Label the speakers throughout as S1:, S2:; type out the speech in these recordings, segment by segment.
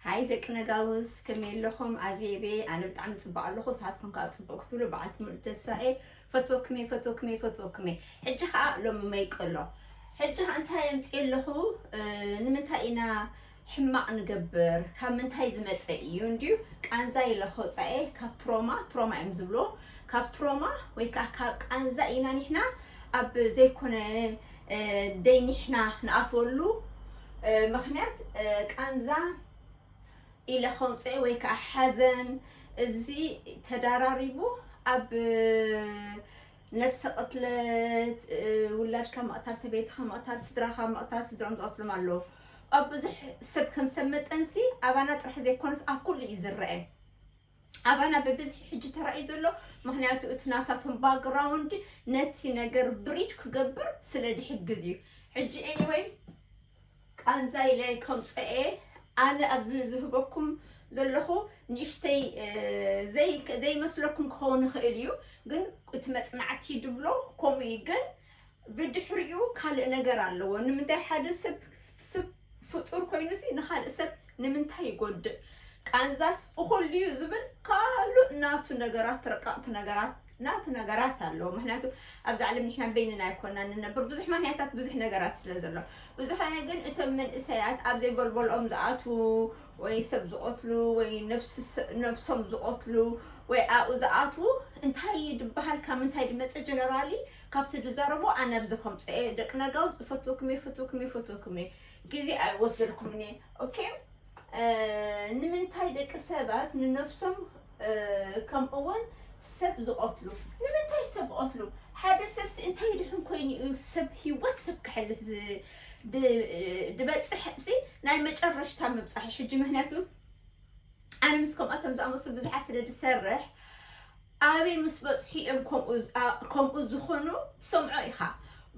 S1: ሃይ ደቂ ነጋውስ ከመይ ኣለኹም ኣዜቤ ኣነ ብጣዕሚ ፅቡቅ ኣለኹ ንስኻትኩም ከዓ ፅቡቅ ክትብሉ በዓልቲ ሙሉእ ተስፋ እየ ፈትወክሜ ፈትወክሜ ፈትወክሜ ሕጂ ከዓ ሎሚ መይቀሎ ሕጂ ከዓ እንታይ ኣምፅእ ኣለኹ ንምንታይ ኢና ሕማቅ ንገብር ካብ ምንታይ ዝመፀ እዩ እንድዩ ቃንዛ ኢለ ከውፃ እየ ካብ ትሮማ ትሮማ እዮም ዝብልዎ ካብ ትሮማ ወይ ከዓ ካብ ቃንዛ ኢና ንሕና ኣብ ዘይኮነ ደይ ኒሕና ንኣትወሉ ምክንያት ቃንዛ ኢለ ከውፀኤ ወይ ከዓ ሓዘን እዚ ተዳራሪቡ ኣብ ነብሰ ቅትለት ውላድካ ምቕታል ሰበይትካ ምቕታል ስድራካ ምቕታል ስድሮም ዝቐትሎም ኣለዉ ኣብ ብዙሕ ሰብ ከም ሰብ መጠንሲ ኣባና ጥራሕ ዘይኮነስ ኣብ ኩሉ እዩ ዝረአ ኣባና ብብዝሒ ሕጂ ተራእዩ ዘሎ ምክንያቱ እቲ ናታቶም ባግራውንድ ነቲ ነገር ብሪድ ክገብር ስለ ዝሕግዝ እዩ ሕጂ ኤኒወይ ቃንዛ ኢለ ከምፀ እየ ኣነ ኣብዚ ዝህበኩም ዘለኹ ንእሽተይ ዘይመስለኩም ክኸውን ይኽእል እዩ ግን እቲ መፅናዕቲ ድብሎ ከምኡ እዩ ግን ብድሕሪኡ ካልእ ነገር ኣለዎ። ንምንታይ ሓደ ሰብ ሰብ ፍጡር ኮይኑሲ ንኻልእ ሰብ ንምንታይ ይጎድእ? ቃንዛስ እኹል ድዩ ዝብል ካልእ ናቱ ነገራት ረቀቕቲ ነገራት ናቱ ነገራት ኣለዎ። ምክንያቱ ኣብዚ ዓለም ንሕና በይንና ኣይኮናን ንነብር ብዙሕ ምክንያታት ብዙሕ ነገራት ስለ ዘሎ ብዝኾነ ግን እቶም መንእሰያት ኣብ ዘይጎልጎልኦም ዝኣትዉ ወይ ሰብ ዝቐትሉ ወይ ነፍሲ ነብሶም ዝቐትሉ ወይ ኣብኡ ዝኣትዉ እንታይ እዩ ድበሃል ካብ ምንታይ ድመጸ ጀነራሊ ካብቲ ዝዛረቦ ኣነ ኣብዚ ከምጽኤ ደቂ ነጋውስ እፈትወኩም እየ እፈትወኩም እየ እፈትወኩም እየ ግዜ ኣይወስደልኩምን እየ ኦኬ ንምንታይ ደቂ ሰባት ንነብሶም ከምኡውን ሰብ ዝቐትሉ ንምንታይ ሰብ ዝቐትሉ ሓደ ሰብሲ እንታይ ድሕን ኮይኑ እዩ ሰብ ሂወት ሰብ ክሕልፍ ዝበፅሕ ሲ ናይ መጨረሽታ ምብፃሕ ሕጂ ምክንያቱ ኣነ ምስ ከምኣቶም ዝኣመሰሉ ብዙሓት ስለ ዝሰርሕ ኣበይ ምስ በጽሑ ኢዮም ከምኡ ዝኮኑ ትሰምዖ ኢካ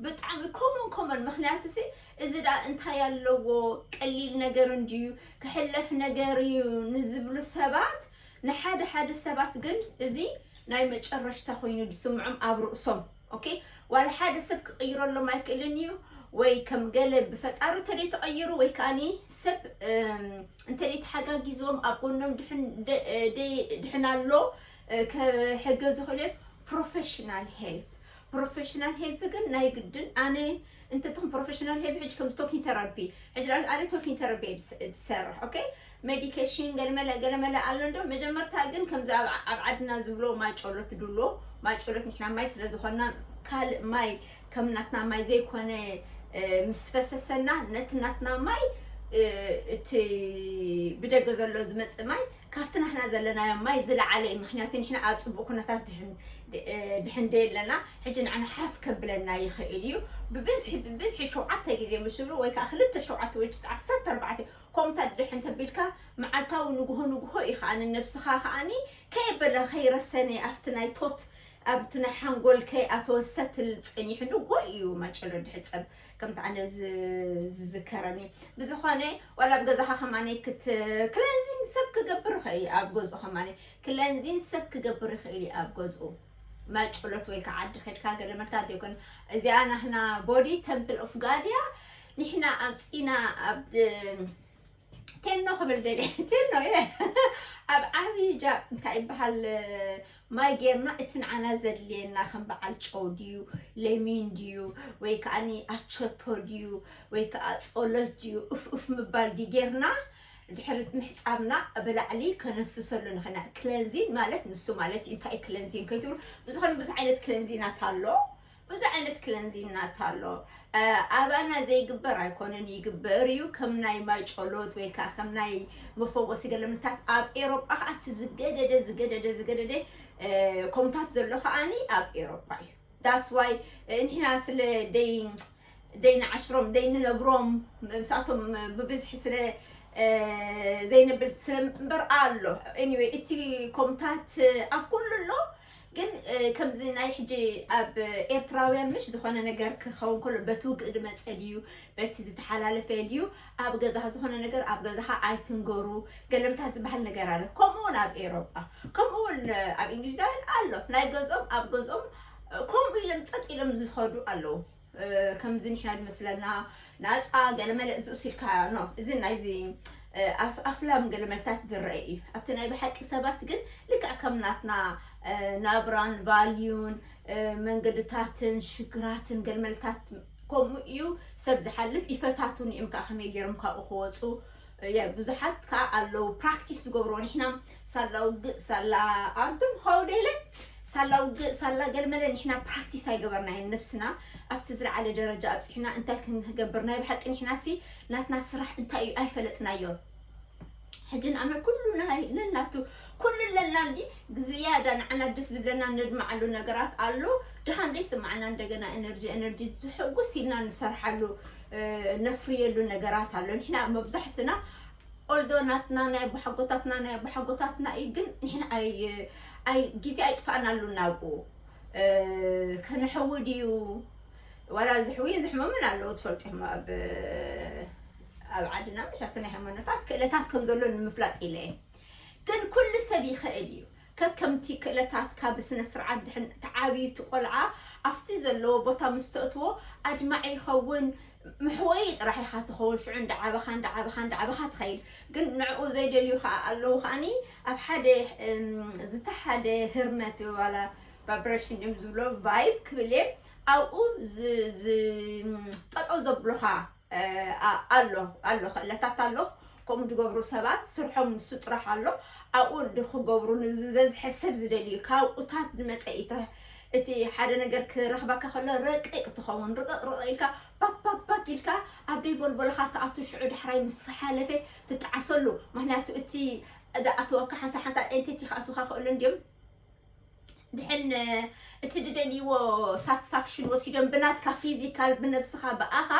S1: ብጣዕሚ ኮሞን ኮሞን ምክንያቱሲ እዚ ደኣ እንታይ ኣለዎ ቀሊል ነገር እንድዩ ክሕለፍ ነገር ኢዩ ንዝብሉ ሰባት ንሓደ ሓደ ሰባት ግን እዚ ናይ መጨረሽታ ኮይኑ ዝስምዖም ኣብ ርእሶም ኦኬ ዋላ ሓደ ሰብ ክቕይረሎም ኣይክእልን እዩ ወይ ከም ገለ ብፈጣሩ እንተደይ ተቐይሩ ወይ ከዓኒ ሰብ እንተደይ ተሓጋጊዞም ኣብ ጎኖም ድሕን ኣሎ ክሕገዝ ዝኽእሉ እዮም ፕሮፌሽናል ሄልፕ ፕሮፌሽናል ሄልፕ ግን ናይ ግድን ኣነ እንተትኹን ፕሮፌሽናል ሄልፕ ሕጂ ከም ቶኪን ተራፒ ሕጂ ኣነ ቶኪን ተራፒ እየ ዝሰርሕ ኦኬ መዲከሽን ገለመለ ገለመለ ኣሎ እንዶ መጀመርታ ግን ከምዚ ኣብ ኣብ ዓድና ዝብሎ ማይጮሎት ድሎ ማይጮሎት ንሕና ማይ ስለ ዝኾንና ካልእ ማይ ከም ናትና ማይ ዘይኮነ ምስ ፈሰሰና ነቲ ናትና ማይ እቲ ብደገ ዘሎ ዝመፅእ ማይ ካብቲ ናህና ዘለናዮ ማይ ዝለዓለ እዩ ምክንያቱ ንሕና ኣብ ፅቡቅ ኩነታት ድሕን ደየለና ሕጂ ንዓና ሓፍ ከብለና ይኽእል እዩ ብብዝሒ ብብዝሒ ሸውዓተ ግዜ ምስ ዝብሉ ወይ ከዓ ክልተ ሸውዓተ ወይ ዓሰርተ ኣርባዕተ ኮምት ኣድሕ እንተ ቢልካ መዓልታዊ ንግሆ ንግሆ እዩ ከኣ ንነብስኻ ከኣ ከየበለ ከይረሰነ ኣብቲ ናይ ቶት ኣብቲ ናይ ሓንጎል ከይኣተወ ሰትል ጸኒሑ ንግሆ እዩ ማጨሎ ድሕጸብ ከምቲ ኣነ ዝዝከረኒ ብዝኾነ ዋላ ኣብ ገዛኻ ከማነይ ክት ክለንዚን ሰብ ክገብር ይኽእል እዩ ኣብ ገዝኡ ከማነይ ክለንዚን ሰብ ክገብር ይኽእል እዩ ኣብ ገዝኡ ማጨሎት ወይ ከዓ ዓዲ ከድካ ገለ መልታ ዲዮኮን እዚኣ ናህና ቦዲ ተምፕል ኦፍ ጋድያ ንሕና ኣምጺና ኣብ ቴኖ ክብል ደልየ ቴኖ እየ ኣብ ዓብዪ ጃ እንታይ ይበሃል ማይ ጌርና እቲ ንዓና ዘድልየና ከም በዓል ጨው ድዩ ለሚን ድዩ ወይ ከዓ ኣቸቶ ድዩ ወይ ከዓ ፆሎት ድዩ እፍኡፍ ምባል ድዩ ጌርና ድሕሪ ምሕፃብና ብላዕሊ ከነፍስሰሉ ንኽና ክለንዚን ማለት ንሱ ማለት እዩ እንታይ ክለንዚን ከይትብሉ ብዝኾነ ብዙሕ ዓይነት ክለንዚናት ኣሎ ብዙሕ ዓይነት ክለንዚናት ኣሎ ኣባና ዘይግበር ኣይኮነን ይግበር እዩ ከም ናይ ማይ ጨሎት ወይ ከዓ ከም ናይ መፈወሲ ገለምታት ኣብ ኤሮጳ ከዓ እቲ ዝገደደ ዝገደደ ዝገደደ ከምታት ዘሎ ከዓኒ ኣብ ኤሮጳ እዩ ዳስዋይ ንሕና ስለ ደይ ደይንዓሽሮም ደይንነብሮም ምስኣቶም ብብዝሒ ስለ ዘይንብል ስለ እምበር ኣሎ ኤኒወይ እቲ ኮምታት ኣብ ኩሉ ኣሎ ግን ከምዚ ናይ ሕጂ ኣብ ኤርትራውያን ምሽ ዝኾነ ነገር ክኸውን ከሎ በቲ ውግእ ዝመፀ ድዩ በቲ ዝተሓላለፈ ድዩ ኣብ ገዛኻ ዝኾነ ነገር ኣብ ገዛኻ ኣይትንገሩ ገለምታት ዝበሃል ነገር ኣሎ ከምኡ እውን ኣብ ኤሮጳ ከምኡ እውን ኣብ እንግሊዛውያን ኣሎ ናይ ገዝኦም ኣብ ገዝኦም ከምኡ ኢሎም ፀጥ ኢሎም ዝኸዱ ኣለዉ ከምዚ ንሕና ዝመስለና ናፃ ገለመለ እዚ ውሲድካ ኖ እዚ ናይዚ ኣፍላም ገለመልታት ዝረአ እዩ ኣብቲ ናይ ብሓቂ ሰባት ግን ልክዕ ከም ናትና ናብራን ቫልዩን መንገድታትን ሽግራትን ገልመልታት ከምኡ እዩ ሰብ ዝሓልፍ ይፈታቱን እዮም ከዓ ከመይ ገይሮም ካብኡ ክወፁ ብዙሓት ከዓ ኣለዉ ፕራክቲስ ዝገብርዎ ንሕና ሳላ ውግእ ሳላ ኣርዱም ሆው ደይለ ሳላ ውግእ ሳላ ገልመለ ንሕና ፕራክቲስ ኣይገበርናዮን ነብስና ኣብቲ ዝለዓለ ደረጃ ኣብፅሕና እንታይ ክንገብር ናይ ብሓቂ ንሕናሲ ናትና ስራሕ እንታይ እዩ ኣይፈለጥናዮን ሕጂ ንኣመር ኩሉ ነናቱ ኩሉ ኣለና እንዲ ዝያዳ ንዓና ደስ ዝብለና ነድምዓሉ ነገራት ኣሎ ድኻም ዘይስማዕና እንደገና ኤነርጂ ኤነርጂ ዝሕጉስ ኢልና ንሰርሓሉ ነፍርየሉ ነገራት ኣሎ ንሕና መብዛሕትና ኦልዶ ናትና ናይ ኣቦሓጎታትና ናይ ኣቦሓጎታትና እዩ ግን ንሕና ኣይ ኣይ ግዜ ኣይጥፋእናሉ ናብኡ ከነሕዊ ድዩ ዋላ ዝሕውይን ዝሕመምን ኣለዉ ትፈልጡ ኢኹም ኣብ ኣብ ዓድና ምሽ ኣብቲ ናይ ሃይማኖታት ክእለታት ከም ዘሎ ንምፍላጥ ኢለ እየ ግን ኩሉ ሰብ ይኽእል እዩ ከከምቲ ክእለታትካ ብስነ ስርዓት ድሕን ተዓብዩ እቲ ቆልዓ ኣብቲ ዘለዎ ቦታ ምስ ተእትዎ ኣድማዒ ይኸውን መሕወዪ ጥራሕ ኢኻ ትኸውን ሽዑ እንዳዓበኻ እንዳዓበኻ እንዳዓበኻ ትኸይድ ግን ንዕኡ ዘይደልዩ ከኣ ኣለዉ ከኣኒ ኣብ ሓደ ዝተሓደ ህርመት ዋላ ቫብረሽን ድዮም ዝብሎ ቫይብ ክብል እየ ኣብኡ ጠጠው ዘብሉኻ ኣሎ ኣሎ ክእለታት ኣሎ ከምኡ ዝገብሩ ሰባት ስርሖም ንሱ ጥራሕ ኣሎ ኣብኡ ክገብሩ ንዝበዝሐ ሰብ ዝደልዩ ካብኡታት ዝመፀ እዩ እታ እቲ ሓደ ነገር ክረኽበካ ከሎ ረቂቕ ትኸውን ርቕቕ ርቕቕ ኢልካ ባክባክባክ ኢልካ ኣብ ደይ ቦልቦልኻ ትኣቱ ሽዑ ዳሕራይ ምስ ሓለፈ ትጠዓሰሉ ምክንያቱ እቲ ዝኣተወካ ሓንሳ ሓንሳ ኤንቲቲ ክኣትውካ ክእሉ እንድዮም ድሕን እቲ ድደልይዎ ሳትስፋክሽን ወሲዶም ብናትካ ፊዚካል ብነብስኻ ብኣኻ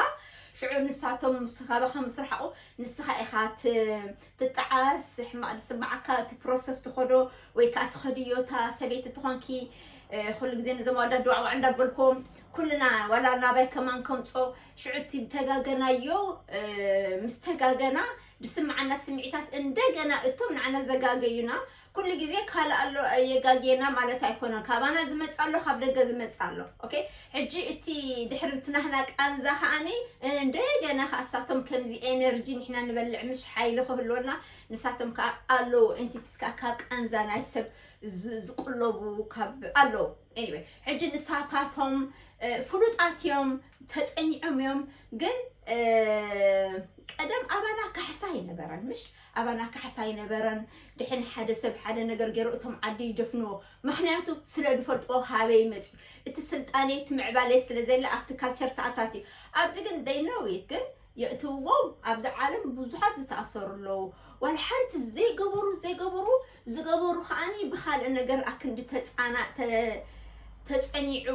S1: ሽዑ ንሳቶም ስኻባኻ ምስ ረሓቑ ንስኻ ኢኻ ትጠዓስ ሕማቕ ዝስማዓካ እቲ ፕሮሰስ ትኸዶ ወይ ከዓ ትኸድዮ እታ ሰበይቲ ትኾንኪ ኩሉ ግዜ ነዞም ኣወዳት ድዋዕዋዕ እንዳበልኩም ኩልና ዋላ ናባይ ከማን ከምፆ ሽዑ እቲ ተጋገናዮ ምስ ተጋገና ዝስምዓና ስምዒታት እንደገና እቶም ንዓና ዘጋገዩና ኩሉ ግዜ ካልእ ኣሎ የጋግየና ማለት ኣይኮነን ካባና ዝመጽእ ኣሎ ካብ ደገ ዝመጽእ ኣሎ ok ሕጂ እቲ ድሕሪ እቲ ናህና ቃንዛ ከኣኒ እንደገና ከኣ እሳቶም ከምዚ ኤነርጂ ንሕና ንበልዕ ምሽ ሓይሊ ክህልወና ንሳቶም ከኣ ኣለዉ ኤንቲቲስ ከኣ ካብ ቃንዛ ናይ ሰብ ዝቁለቡ ካብ ኣለዉ ኤኒወይ ሕጂ ንሳታቶም ፍሉጣት እዮም ተጸኒዖም እዮም ግን ቀደም ኣባና ካሕሳ ኣይነበረን ምሽ ኣባና ካሕሳ ኣይነበረን ድሕን ሓደ ሰብ ሓደ ነገር ገይሩ እቶም ዓዲ ይደፍንዎ ምክንያቱ ስለ ድፈልጥዎ ካበይ መጽዩ እቲ ስልጣኔ እቲ ምዕባሌ ስለ ዘየለ ኣብቲ ካልቸር ተኣታትዩ ኣብዚ ግን they know it ግን የእትውዎም ኣብዚ ዓለም ብዙሓት ዝተኣሰሩ ኣለዉ ዋላ ሓንቲ ዘይገበሩ ዘይገበሩ ዝገበሩ ከኣኒ ብካልእ ነገር ኣክንዲ ተጻና ተ ተጸኒዑ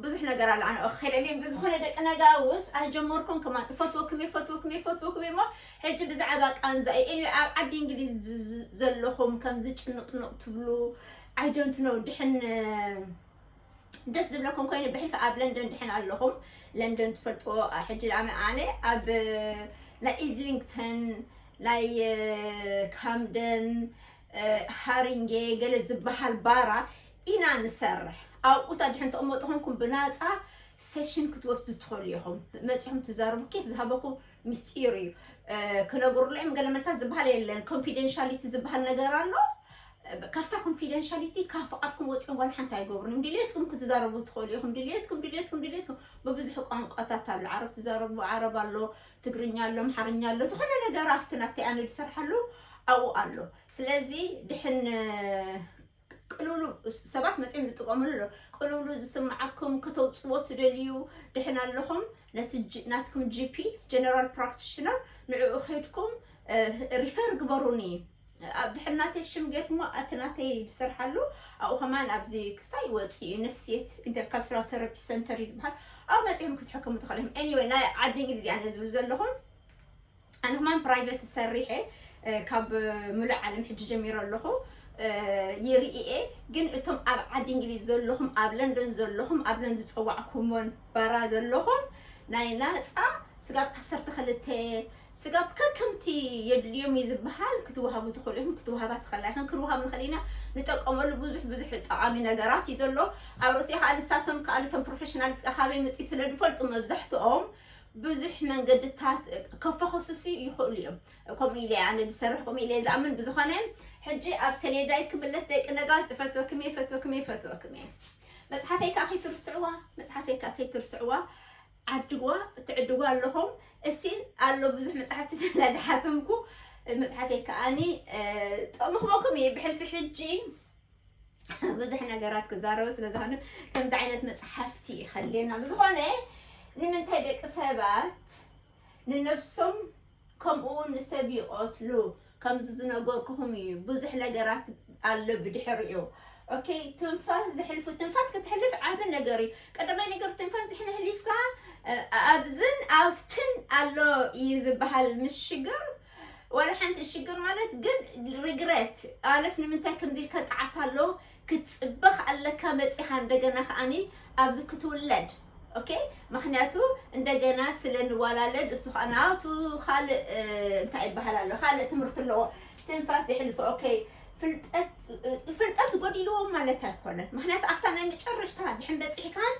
S1: ብዙሕ ነገር ኣሎ ኣነ ክከለልየን ብዝኾነ ደቂ ነጋውስ ኣይጀመርኩንክም ኣን እፈትወክም እየ እፈትወክም እየ እፈትወክም እየ እሞ ሕጂ ብዛዕባ ቃንዛ እዩ ኤኒዌይ ኣብ ዓዲ እንግሊዝ ዝ- ዝ- ዘለኹም ከምዚ ጭንቕንቕ ትብሉ ኣይ ዶንት ኖ ድሕን ደስ ዝብለኩም ኮይኑ ብሕልፊ ኣብ ለንደን ድሕን ኣለኹም ለንደን ትፈልጥዎ ሕጂ ድኣመ ኣነ ኣብ ናይ ኢዝሊንግተን ናይ ካምደን ሃሪንጌ ገለ ዝበሃል ባራ ኢና ንሰርሕ ኣብኡታ ድሕን ተቕመጡ ኮንኩም ብናፃ ሴሽን ክትወስዱ ትኽእሉ ኢኹም መፂኹም ትዛረቡ ኬፍ ዝሃበኩ ምስጢር እዩ ክነግሩለይም ገለ መልታት ዝበሃል የለን ኮንፊደንሻሊቲ ዝበሃል ነገር ኣሎ ካብታ ኮንፊደንሻሊቲ ካብ ፍቓድኩም ወጺኦም ዋላ ሓንቲ ኣይገብሩን እዮም። ድልየትኩም ክትዛረቡ ትኽእሉ ኢኹም። ድልየትኩም ድልየትኩም ድልየትኩም ብብዙሕ ቋንቋታት ኣሎ። ዓረብ ትዛረቡ ዓረብ ኣሎ፣ ትግርኛ ኣሎ፣ ኣምሓርኛ ኣሎ። ዝኾነ ነገር ኣብቲ ናተይ ኣነ ዝሰርሓሉ ኣብኡ ኣሎ። ስለዚ ድሕን ቅልውሉ ሰባት መጺኦም ዝጥቀምሉ ኣሎ። ቅልውሉ ዝስምዓኩም ከተውጽዎ ትደልዩ ድሕን ኣለኹም ነቲ ጂ- ናትኩም ጂፒ ጀነራል ፕራክቲሽነር ንዕኡ ከድኩም ሪፈር ግበሩኒ ኣብ ድሕር ናተይ ሽም ጌርኩሞ ኣቲ ናተይ ድስርሓሉ ኣብኡ ከማን ኣብዚ ክስታይ ይወጽእ እዩ ነፍስየት ኢንተርካልቸራል ተረፒ ሰንተር እዩ ዝበሃል ኣብ መጺኦም ክትሕከሙ ትኽእል እዮም ኤኒወይ ናይ ዓዲ እንግሊዝ እያ ነዚ ዝብል ዘለኹ ኣነ ከማን ፕራይቬት ሰሪሐ ካብ ምሉእ ዓለም ሕጂ ጀሚረ ኣለኹ ይርኢየ ግን እቶም ኣብ ዓዲ እንግሊዝ ዘለኹም ኣብ ለንደን ዘለኹም ኣብዘን ዝፀዋዕኩሞን ባራ ዘለኹም ናይ ናፃ ስጋብ ዓሰርተ ክልተ ስጋብ ከከምቲ የድልዮም እዩ ዝበሃል ክትወሃቡ ትኽእሉ ኢኹም ክትወሃባ ትኽእላ ኢኽን ክንወሃብ ንኽእል ኢና ንጠቀመሉ ብዙሕ ብዙሕ ጠቓሚ ነገራት እዩ ዘሎ ኣብ ርእሲኡ ከዓ ንሳቶም ከዓ እቶም ፕሮፌሽናልስ ከዓ ካበይ መፅኡ ስለ ዝፈልጡ መብዛሕትኦም ብዙሕ መንገድታት ከፈኸሱሱ ይኽእሉ እዮም ከምኡ ኢለ ኣነ ዝሰርሕ ከምኡ ኢለ ዝኣምን ብዝኾነ ሕጂ ኣብ ሰሌዳይ ክምለስ ደቂ ነጋስ እፈትወክም እየ እፈትወክም እየ እፈትወክም እየ መፅሓፈይ ከዓ ከይትርስዕዋ መፅሓፈይ ከዓ ከይትርስዕዋ ዓድግዋ ትዕድጉ ኣለኹም እስቲ ኣሎ ብዙሕ መፅሓፍቲ ስለዝሓተምኩ መፅሓፈይ ከዓኒ ጥቕሚ ክበኩም እዩ ብሕልፊ ሕጂ ብዙሕ ነገራት ክዛረቡ ስለዝኾነ ከምዚ ዓይነት መፅሓፍቲ ይኸልየና ብዝኾነ ንምንታይ ደቂ ሰባት ንነብሶም ከምኡ ውን ሰብ ይቀትሉ ከምዚ ዝነገርኩኩም ኢዩ ብዙሕ ነገራት ኣሎ ብድሕሪኡ ኦኬ ትንፋስ ዝሕልፉ ትንፋስ ክትሕልፍ ዓቢ ነገር ኢዩ ቀዳማይ ነገር ትንፋስ ድሕን ሕሊፍካ ኣብዝን ኣብትን ኣሎ ኢዩ ዝበሃል ምስ ሽግር ዋላ ሓንቲ ሽግር ማለት ግን ሪግረት ኣነስ ንምንታይ ከምዚ ኢልካ ጣዕሳ ኣሎ ክትጽበኽ ኣለካ መጺኻ እንደገና ከኣኒ ኣብዚ ክትውለድ ኦኬ ምክንያቱ እንደገና ስለ ንዋላለድ እሱ ከዓ ናቱ ካልእ እንታይ ይበሃል ኣሎ ካልእ ትምህርቲ ኣለዎ ትንፋስ የሕልፎ ኦኬ ፍልጠት ጎዲልዎም ማለት ኣይኮነን ምክንያቱ ኣብታ ናይ መጨረሽታ ድሕን በፂሕካን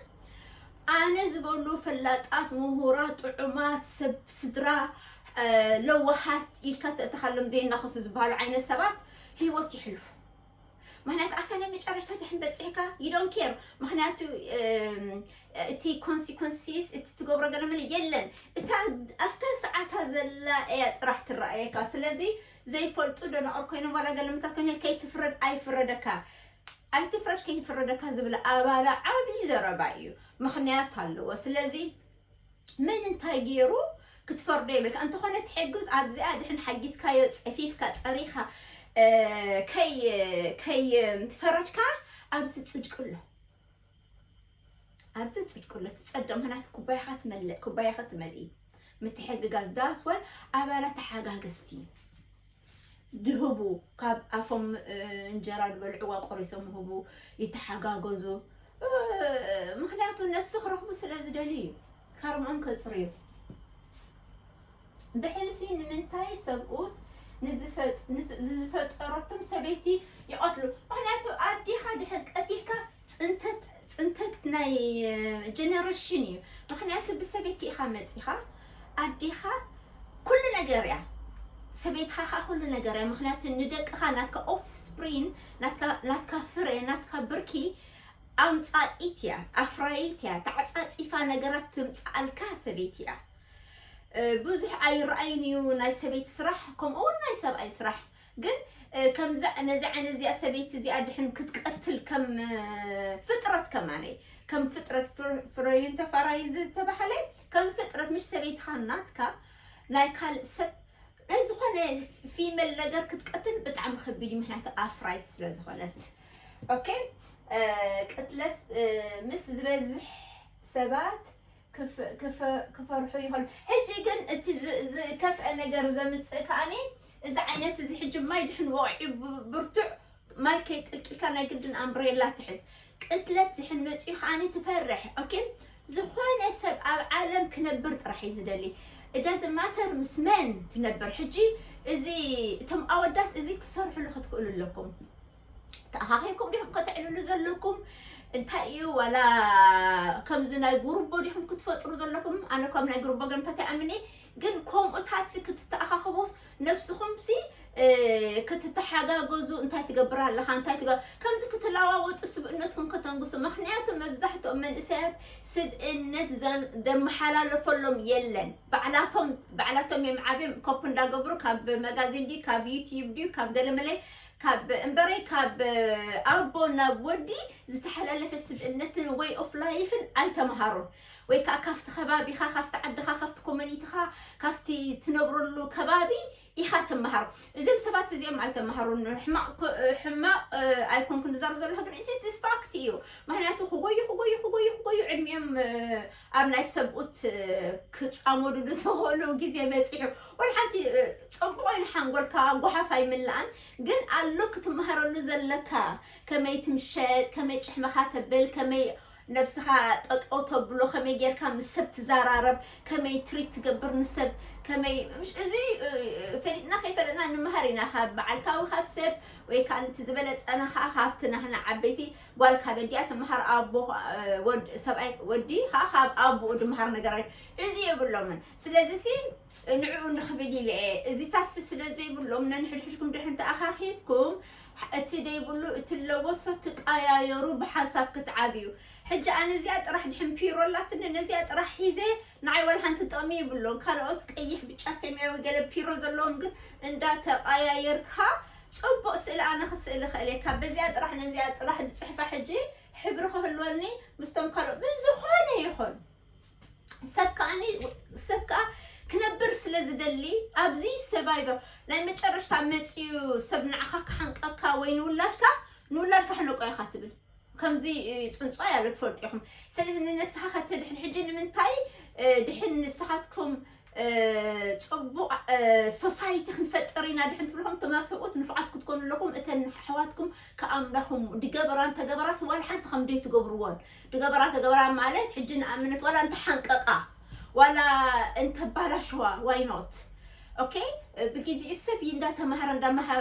S1: ኣነ ዝበሉ ፈላጣት ምሁራት ጥዑማት ሰብ ስድራ ለዋሃት ኢልካ ተእተኻሎም ዘይናኸሱ ዝበሃሉ ዓይነት ሰባት ህይወት ይሕልፉ ምክንያቱ ኣብታ ናይ መጨረሽታ ድሕን በፂሕካ ይዶን ኬር ምክንያቱ እቲ ኮንሲኮንሲስ እቲ ትገብሮ ገለምን የለን እታ ኣብታ ሰዓታ ዘላ እያ ጥራሕ ትረኣየካ ስለዚ ዘይፈልጡ ደናቑር ኮይኖም ዋላ ገለምታት ኮይነ ከይትፍረድ ኣይፍረደካ ኣይትፍረድ ከይፍረደካ ዝብል ኣባላ ዓብዪ ዘረባ እዩ ምክንያት ኣለዎ ስለዚ መን እንታይ ጌሩ ክትፈርዶ የብልካ እንተኾነ እቲ ሕግዝ ኣብዚኣ ድሕን ሓጊዝካዮ ጸፊፍካ ጸሪኻ ከይ ከይ ፈረድካ ኣብዚ ጽድቂ ኣሎ ኣብዚ ጽድቂ ኣሎ ትጸድቕ ምክንያቱ ኩባያኻ ትመልእ ኩባያኻ ትመልኢ ምትሕግጋዝ ዳስወ ኣባላት ተሓጋገዝቲ ድህቡ ካብ ኣፎም እንጀራ ድበልዕዋ ቆሪሶም ይህቡ ይተሓጋገዙ ምክንያቱ ነብሲ ክረክቡ ስለ ዝደልዩ እዩ ከርምኦም ከጽርዩ ብሕልፊ ንምንታይ ሰብኡት ንዝፈጠረቶም ሰበይቲ ይቐትሉ ምክንያቱ ኣዴኻ ድሕን ቀቲልካ ፅንተት ፅንተት ናይ ጀነሬሽን እዩ ምክንያቱ ብሰበይቲ ኢካ መፂካ ኣዴካ ኩሉ ነገር እያ ሰበይትካ ከዓ ኩሉ ነገር እያ ምክንያቱ ንደቅካ ናትካ ኦፍስፕሪን ናትካ ፍረ ናትካ ብርኪ ኣምፃኢት እያ ኣፍራይት እያ ተዓፃፂፋ ነገራት ትምፅኣልካ ሰበይቲ እያ ብዙሕ ኣይረኣይን እዩ ናይ ሰበይቲ ስራሕ ከምኡ እውን ናይ ሰብኣይ ስራሕ ግን ከምዛ ነዚ ዓይነት እዚኣ ሰበይቲ እዚኣ ድሕን ክትቀትል ከም ፍጥረት ከማለይ ከም ፍጥረት ፍረዩን ተፋራዩን ዝተባህለ ከም ፍጥረት ምሽ ሰበይትኻ ናትካ ናይ ካልእ ሰብ ናይ ዝኾነ ፊመል ነገር ክትቀትል ብጣዕሚ ከቢድ እዩ ምክንያቱ ኣፍራይት ስለ ዝኾነት ኦኬ ቅትለት ምስ ዝበዝሕ ሰባት ክፈርሑ ይኸሉ ሕጂ ግን እቲ ዝከፍአ ነገር ዘምጽእ ከኣኒ እዚ ዓይነት እዚ ሕጂ ማይ ድሕን ወቂዑ ብርቱዕ ማይ ከይጥልቂልካ ናይ ግድን ኣምብሬላ ትሕዝ ቅትለት ድሕን መጽኡ ከኣኒ ትፈርሕ ኦኬ ዝኾነ ሰብ ኣብ ዓለም ክነብር ጥራሕ እዩ ዝደሊ እዳዚ ማተር ምስ መን ትነብር ሕጂ እዚ እቶም ኣወዳት እዚ ክትሰርሕሉ ክትክእሉ ኣለኩም ተኣኻኺብኩም ዲኹም ከተዕልሉ ዘለኩም እንታይ እዩ ዋላ ከምዚ ናይ ጉርቦ ዲኹም ክትፈጥሩ ዘለኩም ኣነ እኳ ናይ ጉርቦ ገምታት ይኣምን እየ ግን ከምኡታት ሲ ክትተኣኻኸቡስ ነብስኹም ሲ ክትተሓጋገዙ እንታይ ትገብር ኣለኻ እንታይ ትገ ከምዚ ክትለዋወጡ ስብእነትኩም ከተንግሱ ምክንያቱ መብዛሕትኦም መንእሰያት ስብእነት ዘመሓላለፈሎም የለን ባዕላቶም ባዕላቶም እዮም ዓብዮም ኮፕ እንዳገብሩ ካብ መጋዚን ድዩ ካብ ዩትዩብ ድዩ ካብ ገለመለይ ካብ እምበረይ ካብ ኣቦ ናብ ወዲ ዝተሐላለፈ ስብእነትን ወይ ኦፍ ላይፍን ኣይተምሃሩን ወይ ከዓ ካብቲ ከባቢኻ ካብቲ ዓድኻ ካብቲ ኮሚኒቲኻ ካብቲ ትነብረሉ ከባቢ ኢኻ ትምሃር እዚም ሰባት እዚኦም ኣይተምሃሩን ሕማቕ ሕማቕ ኣይኮንኩን ዝዛረብ ዘለኹ ግን ኢትስ ፋክት እዩ ምክንያቱ ክጎዩ ክጎዩ ክጎዩ ክጎዩ ዕድሚኦም ኣብ ናይ ሰብኡት ክጻመዱሉ ዝኽእሉ ግዜ በጺሑ። ወላ ሓንቲ ጽቡቕ ኮይኑ ሓንጎልካ ጓሓፍ ኣይምላእን ግን ኣሎ ክትመሃረሉ ዘለካ ከመይ ትምሸጥ ከመይ ጭሕምኻ ተብል ከመይ ነብስኻ ጠጠው ተብሎ ከመይ ጌርካ ምስ ሰብ ትዘራረብ ከመይ ትሪት ትገብር ንሰብ ከመይ እዚ ፈሊጥና ከይፈለጥና ንመሃር ኢና ካብ በዓልካዊ ካብ ሰብ ወይ ከዓ ንቲ ዝበለጸና ከዓ ካብቲ ናህና ዓበይቲ ጓል ካብ ኣዲኣ ትምሃር ኣቦ ወድ ሰብኣይ ወዲ ከኣ ካብ ኣቡኡ ድምሃር ነገራት እዚ የብሎምን ስለዚሲ ንዕኡ ንኽብል ኢለ እየ እዚታሲ ስለ ዘይብሎም ነንሕድሕድኩም ድሕን ተኣኻኺብኩም እቲ ደይብሉ እቲ ለወሶ ትቀያየሩ ብሓንሳብ ክትዓብዩ ሕጂ ኣነ እዚኣ ጥራሕ ድሕን ፒሮ ኣላትኒ ነዚኣ ጥራሕ ሒዘ ንዓይ ዋላ ሓንቲ ጥቕሚ ይብሎን ካልኦስ ቀይሕ ብጫ ሰማያዊ ገለ ፒሮ ዘለዎም ግን እንዳተቀያየርካ ጽቡቅ ስእሊ ኣነ ክስእል ይክእል እየ ካብ በዚኣ ጥራሕ ነዚኣ ጥራሕ ዝጽሕፋ ሕጂ ሕብሪ ክህልወኒ ምስቶም ካልኦት ብዝኮነ ይኩን ሰብ ከኣኒ ሰብ ከኣ ክነብር ስለ ዝደሊ ኣብዚ ሰቫይቨር ናይ መጨረሽታ መጽዩ ሰብ ንዓካ ክሓንቀካ ወይ ንውላድካ ንውላድካ ሕነቆ ኢካ ትብል ከምዚ ፅንፅዋይ ኣሎ ትፈልጡ ኢኹም ስለዚ ንነብስኻ ከተድሕን ሕጂ ንምንታይ ድሕን ንስኻትኩም ጽቡቕ ሶሳይቲ ክንፈጥር ኢና ድሕን ትብልኹም ትማ ሰብኡት ንፉዓት ክትኮኑ ኣለኹም እተን ኣሕዋትኩም ከኣምላኹም ድገበራን ተገበራስ ዋላ ሓንቲ ከም ደይ ትገብርዎን ድገበራ ተገበራ ማለት ሕጂ ንኣምነት ዋላ እንተሓንቀቃ ዋላ እንተባላሸዋ ዋይ ኖት ኦኬ ብግዜኡ ሰብ እዩ እንዳተማሃረ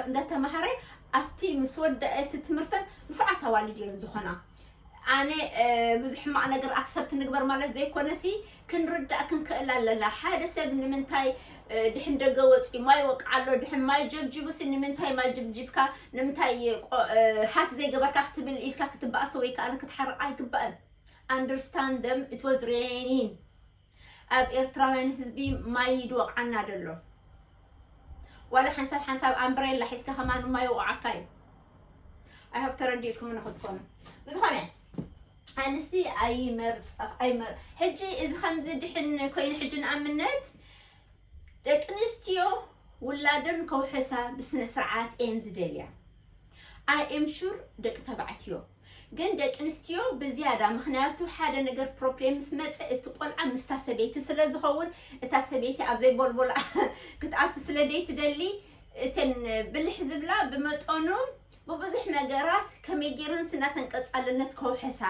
S1: እንዳተማሃረ ኣብቲ ምስ ወደአ እቲ ትምህርተን ንፉዓት ኣዋልድ እየን ዝኾና ኣነ ብዙሕ ሕማቕ ነገር ኣክሰብት ንግበር ማለት ዘይኮነሲ ክንርዳእ ክንክእል ኣለና ሓደ ሰብ ንምንታይ ድሕን ደገ ወፂኡ ማይ ወቅዓ ኣሎ ድሕን ማይ ጀብጅቡሲ ንምንታይ ማይ ጅብጅብካ ንምንታይ ሃክ ዘይገበርካ ክትብል ኢልካ ክትበኣሶ ወይ ከዓ ክትሓርቕ ኣይግባእን ኣንደርስታንድ ደም ኢት ዋዝ ሬኒን ኣብ ኤርትራውያን ህዝቢ ማይ ይድወቕዓና ዶ ኣሎ? ዋላ ሓንሳብ ሓንሳብ ኣምብሬላ ሒዝካ ከማን ማይ ይወቕዓካ እዩ። I hope ተረዲእኩምኒ ክትኮኑ። ብዝኾነ ኣንስቲ ኣይመርጽ ኣይመር ሕጂ እዚ ከምዚ ድሕን ኮይኑ ሕጂ ንኣብነት ደቂ ኣንስትዮ ውላደን ከውሕሳ ብስነ ስርዓት እየን ዝደልያ። ኣይ ኤም ሹር ደቂ ተባዕትዮ ግን ደቂ ኣንስትዮ ብዝያዳ ምኽንያቱ ሓደ ነገር ፕሮፕሌም ምስ መጸ እቲ ቆልዓ ምስታ ሰበይቲ ስለ ዝኸውን እታ ሰበይቲ ኣብ ዘይቦልቦላ ክትኣቱ ስለ ዘይትደሊ እተን ብልሕ ዝብላ ብመጠኑ ብብዙሕ ነገራት ከመይ ጌረን ስና ተንቀጻልነት ከውሕሳ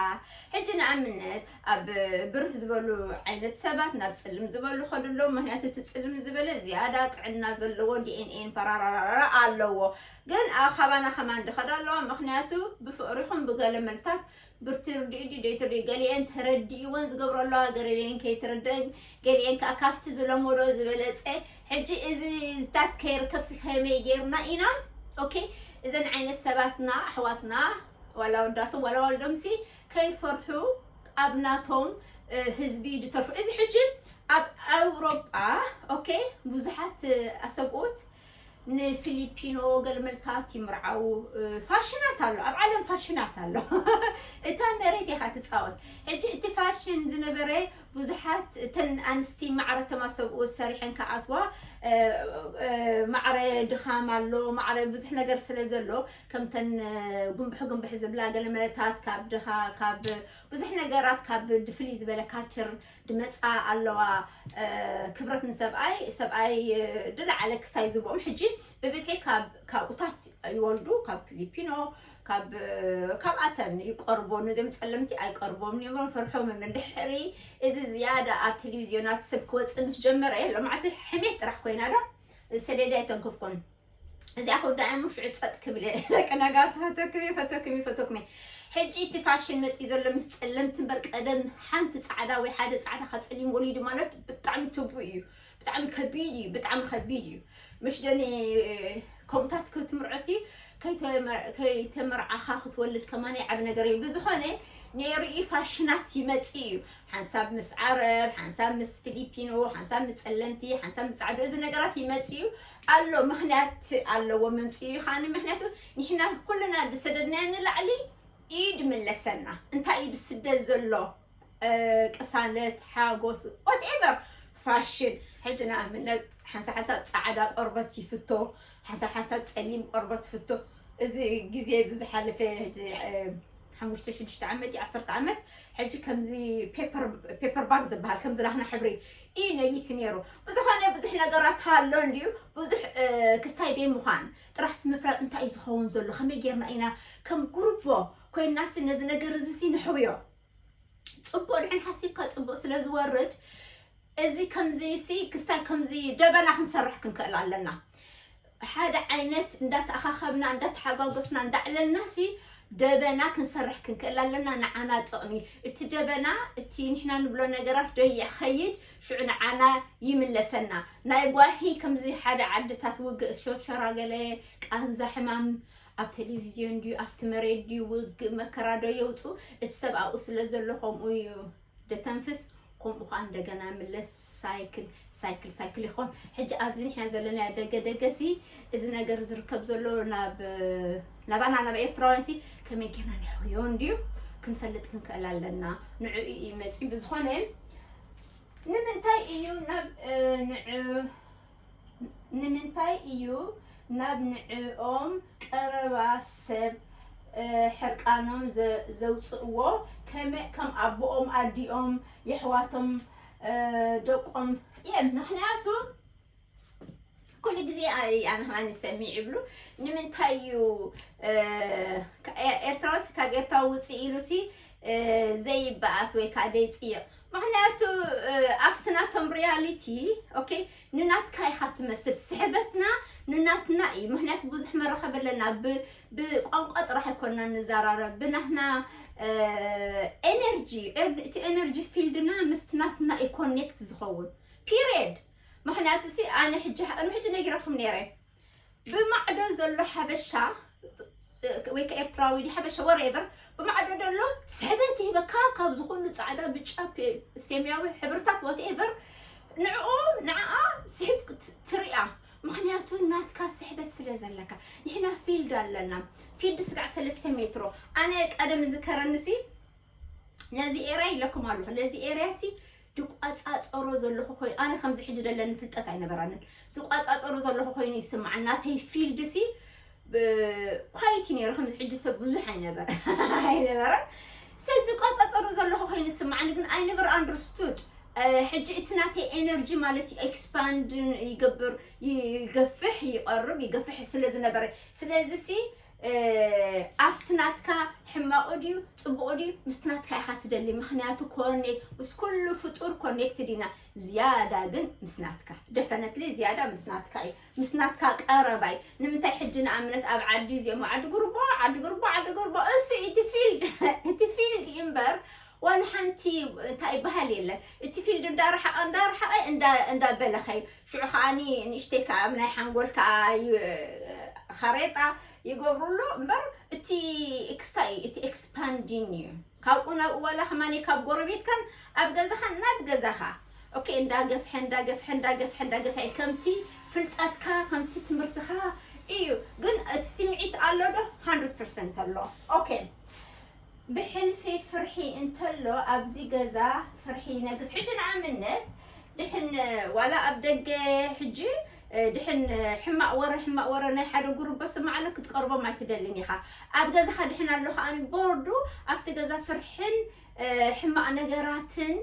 S1: ሕጂ ንኣብነት ኣብ ብርህ ዝበሉ ዓይነት ሰባት ናብ ጽልም ዝበሉ ከዱ ኣለዉ ምክንያቱ እቲ ጽልም ዝበለ ዝያዳ ጥዕና ዘለዎ ዲኤንኤን ፓራራራራ ኣለዎ ግን ኣብ ኻባና ከማን ድኸድ ኣለዋ ምኽንያቱ ብፍቕሪኹም ብገለ መልታት ብርትርድኡ ድዩ ደይትርድኡ ገሊኤን ተረዲእወን ዝገብሮ ኣለዋ ገረሊኤን ከይትርደእን ገሊኤን ከዓ ካብቲ ዝለመዶ ዝበለፀ ሕጂ እዚ ዝታት ከይርከብሲ ከመይ ጌርና ኢና ኦኬ እዘን ዓይነት ሰባትና ኣሕዋትና ዋላ ወዳቶም ዋላ ዋልዶምሲ ከይፈርሑ ኣብ ናቶም ህዝቢ ድተርፉ እዚ ሕጂ ኣብ ኣውሮጳ ኦኬ ብዙሓት ኣሰብኡት ንፊሊፒኖ ገልመልታት ይምርዓዉ ፋሽናት ኣሎ ኣብ ዓለም ፋሽናት ኣሎ እታ መሬት ኢኻ ትፃወት ሕጂ እቲ ፋሽን ዝነበረ ብዙሓት እተን ኣንስቲ ማዕረ ተማሰብኡ ሰሪሐን ከኣትዋ ማዕረ ድኻም ኣሎ ማዕረ ብዙሕ ነገር ስለ ዘሎ ከምተን ጉንብሕ ጉንብሕ ዝብላ ገለመለታት ካብ ድኻ ካብ ብዙሕ ነገራት ካብ ድፍልይ ዝበለ ካልቸር ድመጻ ኣለዋ ክብረት ንሰብኣይ ሰብኣይ ድላዓለ ክሳይ ዝብኦም ሕጂ ብብዝሒ ካብ ካብኡታት ይወልዱ ካብ ፊሊፒኖ ካብ ካብኣተን ይቀርቦ ነዚኦም ጸለምቲ ኣይቀርቦም ኒሞ ፈርሖም ምድሕሪ እዚ ዝያዳ ኣብ ቴሌቪዝዮናት ሰብ ክወጽእ ምስ ጀመረ ሎማዓልቲ ሕሜት ጥራሕ ኮይና ዶ ሰደዳ ይተንክፍኩም እዚኣ ክውዳእ እሞ ሽዑ ፀጥ ክብል እየ ደቂ ነጋሲ ፈተኩም እየ ፈተኩም እየ ፈተኩም እየ ሕጂ እቲ ፋሽን መፅኡ ዘሎ ምስ ፀለምቲ እምበር ቀደም ሓንቲ ፃዕዳ ወይ ሓደ ፃዕዳ ካብ ፀሊም ወሊዱ ማለት ብጣዕሚ ትቡእ እዩ ብጣዕሚ ከቢድ እዩ ብጣዕሚ ከቢድ እዩ ምሽ ደኒ ከምታት ክትምርዖሲ ከይተመርዓኻ ክትወልድ ከማን ዓብ ነገር እዩ ብዝኾነ ነይሩ እዩ ፋሽናት ይመፅ እዩ ሓንሳብ ምስ ዓረብ ሓንሳብ ምስ ፊሊፒኖ ሓንሳብ ምስ ፀለምቲ ሓንሳብ ምስ ፃዕዱ እዚ ነገራት ይመፅ እዩ ኣሎ ምክንያት ኣለዎ መምፂኡ ከዓኒ ምክንያቱ ንሕና ኩልና ዝሰደድናዮ ንላዕሊ እዩ ድምለሰና እንታይ እዩ ዝስደድ ዘሎ ቅሳነት ሓጎስ ዋትኤቨር ፋሽን ሕጂ ንኣብነት ሓንሳ ሓሳብ ፃዕዳ ቆርበት ይፍቶ ሓንሳ ሓሳብ ፀሊም ቆርበት ይፍቶ እዚ ግዜ እዚ ዝሓለፈ ሓሙሽተ ሽዱሽተ ዓመት ዓሰርተ ዓመት ሕጂ ከምዚ ፔፐር ባግ ዝበሃል ከምዚ ናህና ሕብሪ ኢዩ ነጊሱ ኔሩ ብዝኮነ ብዙሕ ነገራት ሃሎ እንድዩ ብዙሕ ክስታይ ደይ ምዃን ጥራሕስ ምፍራጥ እንታይ ኢዩ ዝኸውን ዘሎ ከመይ ጌርና ኢና ከም ጉርቦ ኮይናሲ ነዚ ነገር እዚሲ ንሕውዮ ጽቡቅ ድሕን ሓሲብካ ጽቡቅ ስለ ዝወርድ እዚ ከምዚሲ ክስታይ ከምዚ ደበና ክንሰርሕ ክንክእል ኣለና ብሓደ ዓይነት እንዳተኣኻኸብና እንዳተሓጓጎስና እንዳዕለልናሲ ደበና ክንሰርሕ ክንክእል ኣለና ንዓና ጥቕሚ እቲ ደበና እቲ ንሕና ንብሎ ነገራት ዶ ይኸይድ ሽዑ ንዓና ይምለሰና ናይ ጓሂ ከምዚ ሓደ ዓድታት ውግእ ሸሸራ ገለ ቃንዛ ሕማም ኣብ ቴሌቪዝዮን ድዩ ኣብቲ መሬት ድዩ ውግእ መከራ ዶ የውፁ እቲ ሰብ ኣብኡ ስለ ዘሎ ከምኡ እዩ ደተንፍስ ኮምኡ ከኣ እንደገና ምለስ ሳይክል ሳይክል ሳይክል ይኾን ሕጂ ኣብዚ ንሕና ዘለና ደገ ደገሲ እዚ ነገር ዝርከብ ዘሎ ናብ ናባና ናብ ኤርትራውያንሲ ከመይ ጌርና ንሕውዮ እንድዩ ክንፈልጥ ክንክእል ኣለና ንዑ እዩ መፂ ብዝኾነ ንምንታይ እዩ ናብ ንዑ ንምንታይ እዩ ናብ ንዕኦም ቀረባ ሰብ ሕርቃኖም ዘውጽእዎ ከመይ ከም ኣቦኦም ኣዲኦም የሕዋቶም ደቆም እዬም ምክንያቱ ኩሉ ግዜ ኣነ ከኣ ዝሰምዕ ይብሉ ንምንታይ እዩ ኤርትራውስ ካብ ኤርትራዊ ውጽእ ኢሉሲ ዘይበኣስ ወይ ከኣ ዘይጽይቅ ምክንያቱ ኣብቲ ናቶም ሪያሊቲ ኦኬ ንናትካ ኢኻ ትመስል ስሕበትና ንናትና እዩ ምክንያቱ ብዙሕ መራኸቢ ኣለና ብቋንቋ ጥራሕ ኣይኮና ንዘራረብ ብናትና ኤነርጂ እቲ ኤነርጂ ፊልድና ምስቲ ናትና እዩ ኮኔክት ዝኸውን ፒሪየድ ምክንያቱ ሲ ኣነ ሕጂ ቅድሚ ሕጂ ነጊረኩም ነይረ ብማዕዶ ዘሎ ሓበሻ ወይ ከዓ ኤርትራዊ ሓበሻ ወሬቨር ብማዕዶ ዘሎ ስሕበት ይህበካ ካብ ዝኹሉ ፃዕዳ ብጫ ሰማያዊ ሕብርታት ዋትኤቨር ንዕኡ ንዓኣ ስሕብ ትሪኣ ምክንያቱ ናትካ ስሕበት ስለ ዘለካ ንሕና ፊልድ ኣለና ፊልድ ስጋዕ ሰለስተ ሜትሮ ኣነ ቀደም ዝከረንሲ ነዚ ኤርያ ይለኩም ኣለኹ ነዚ ኤርያ ሲ ድቋጻጸሮ ዘለኹ ኮይኑ ኣነ ከምዚ ሕጂ ደለኒ ፍልጠት ኣይነበራንን ዝቋጻጸሮ ዘለኹ ኮይኑ ይስማዓኒ ናተይ ፊልድ ሲ ኳይቲ ነይሩ ከምዚ ሕጂ ሰብ ብዙሕ ኣይነበረ ኣይነበረን ሰብ ዝቋጻጸሮ ዘለኹ ኮይኑ ይስማዓኒ ግን ኣይ ነቨር ኣንደርስቱድ ሕጂ እቲ ናተይ ኤነርጂ ማለት እዩ ኤክስፓንድ ይገብር ይገፍሕ ይቐርብ ይገፍሕ ስለ ዝነበረ ስለዚ ሲ ኣብቲ ናትካ ሕማቑ ድዩ ፅቡቑ ድዩ ምስቲ ናትካ ኢኻ ትደሊ ምክንያቱ ኮኔ ምስ ኩሉ ፍጡር ኮኔክትድ ኢና ዝያዳ ግን ምስ ናትካ ደፈነትሊ ዝያዳ ምስ ናትካ እዩ ምስ ናትካ ቀረባ እዩ ንምንታይ ሕጂ ንኣብነት ኣብ ዓዲ እዚኦም ዓዲ ጉርቦ ዓዲ ጉርቦ ዓዲ ጉርቦ እሱ እቲ ፊልድ እቲ ፊልድ እዩ እምበር ዋላ ሓንቲ እንታይ ይበሃል የለን እቲ ፊልድ እንዳረሓቐ እንዳረሓቐ እንዳ በለ ከይዱ ሽዑ ከኣ ንእሽተይ ከኣ ኣብ ናይ ሓንጎል ከኣ ኻሬጣ ይገብሩሉ እምበር እቲ ኤክስታይ እዩ እቲ ኤክስፓንዲን እዩ ካብኡ ናብኡ ዋላ ከማን ካብ ጎረቤትካን ኣብ ገዛኻን ናብ ገዛኻ ኦኬ እንዳገፍሐ እንዳገፍሐ እንዳገፍሐ እንዳገፍሐ ከምቲ ፍልጠትካ ከምቲ ትምህርትኻ እዩ ግን እቲ ስምዒት ኣሎ ዶ 100% ኣሎ ኦኬ ብሕልፊ ፍርሒ እንተሎ ኣብዚ ገዛ ፍርሒ ይነግስ ሕጂ ንኣብነት ድሕን ዋላ ኣብ ደገ ሕጂ ድሕን ሕማቅ ወረ ሕማቅ ወረ ናይ ሓደ ጉርበ ስማዕ ኣሎ ክትቀርቦም ኣይትደልን ኢኻ ኣብ ገዛኻ ድሕን ኣሎ ከኣ ቦርዱ ኣብቲ ገዛ ፍርሕን ሕማቅ ነገራትን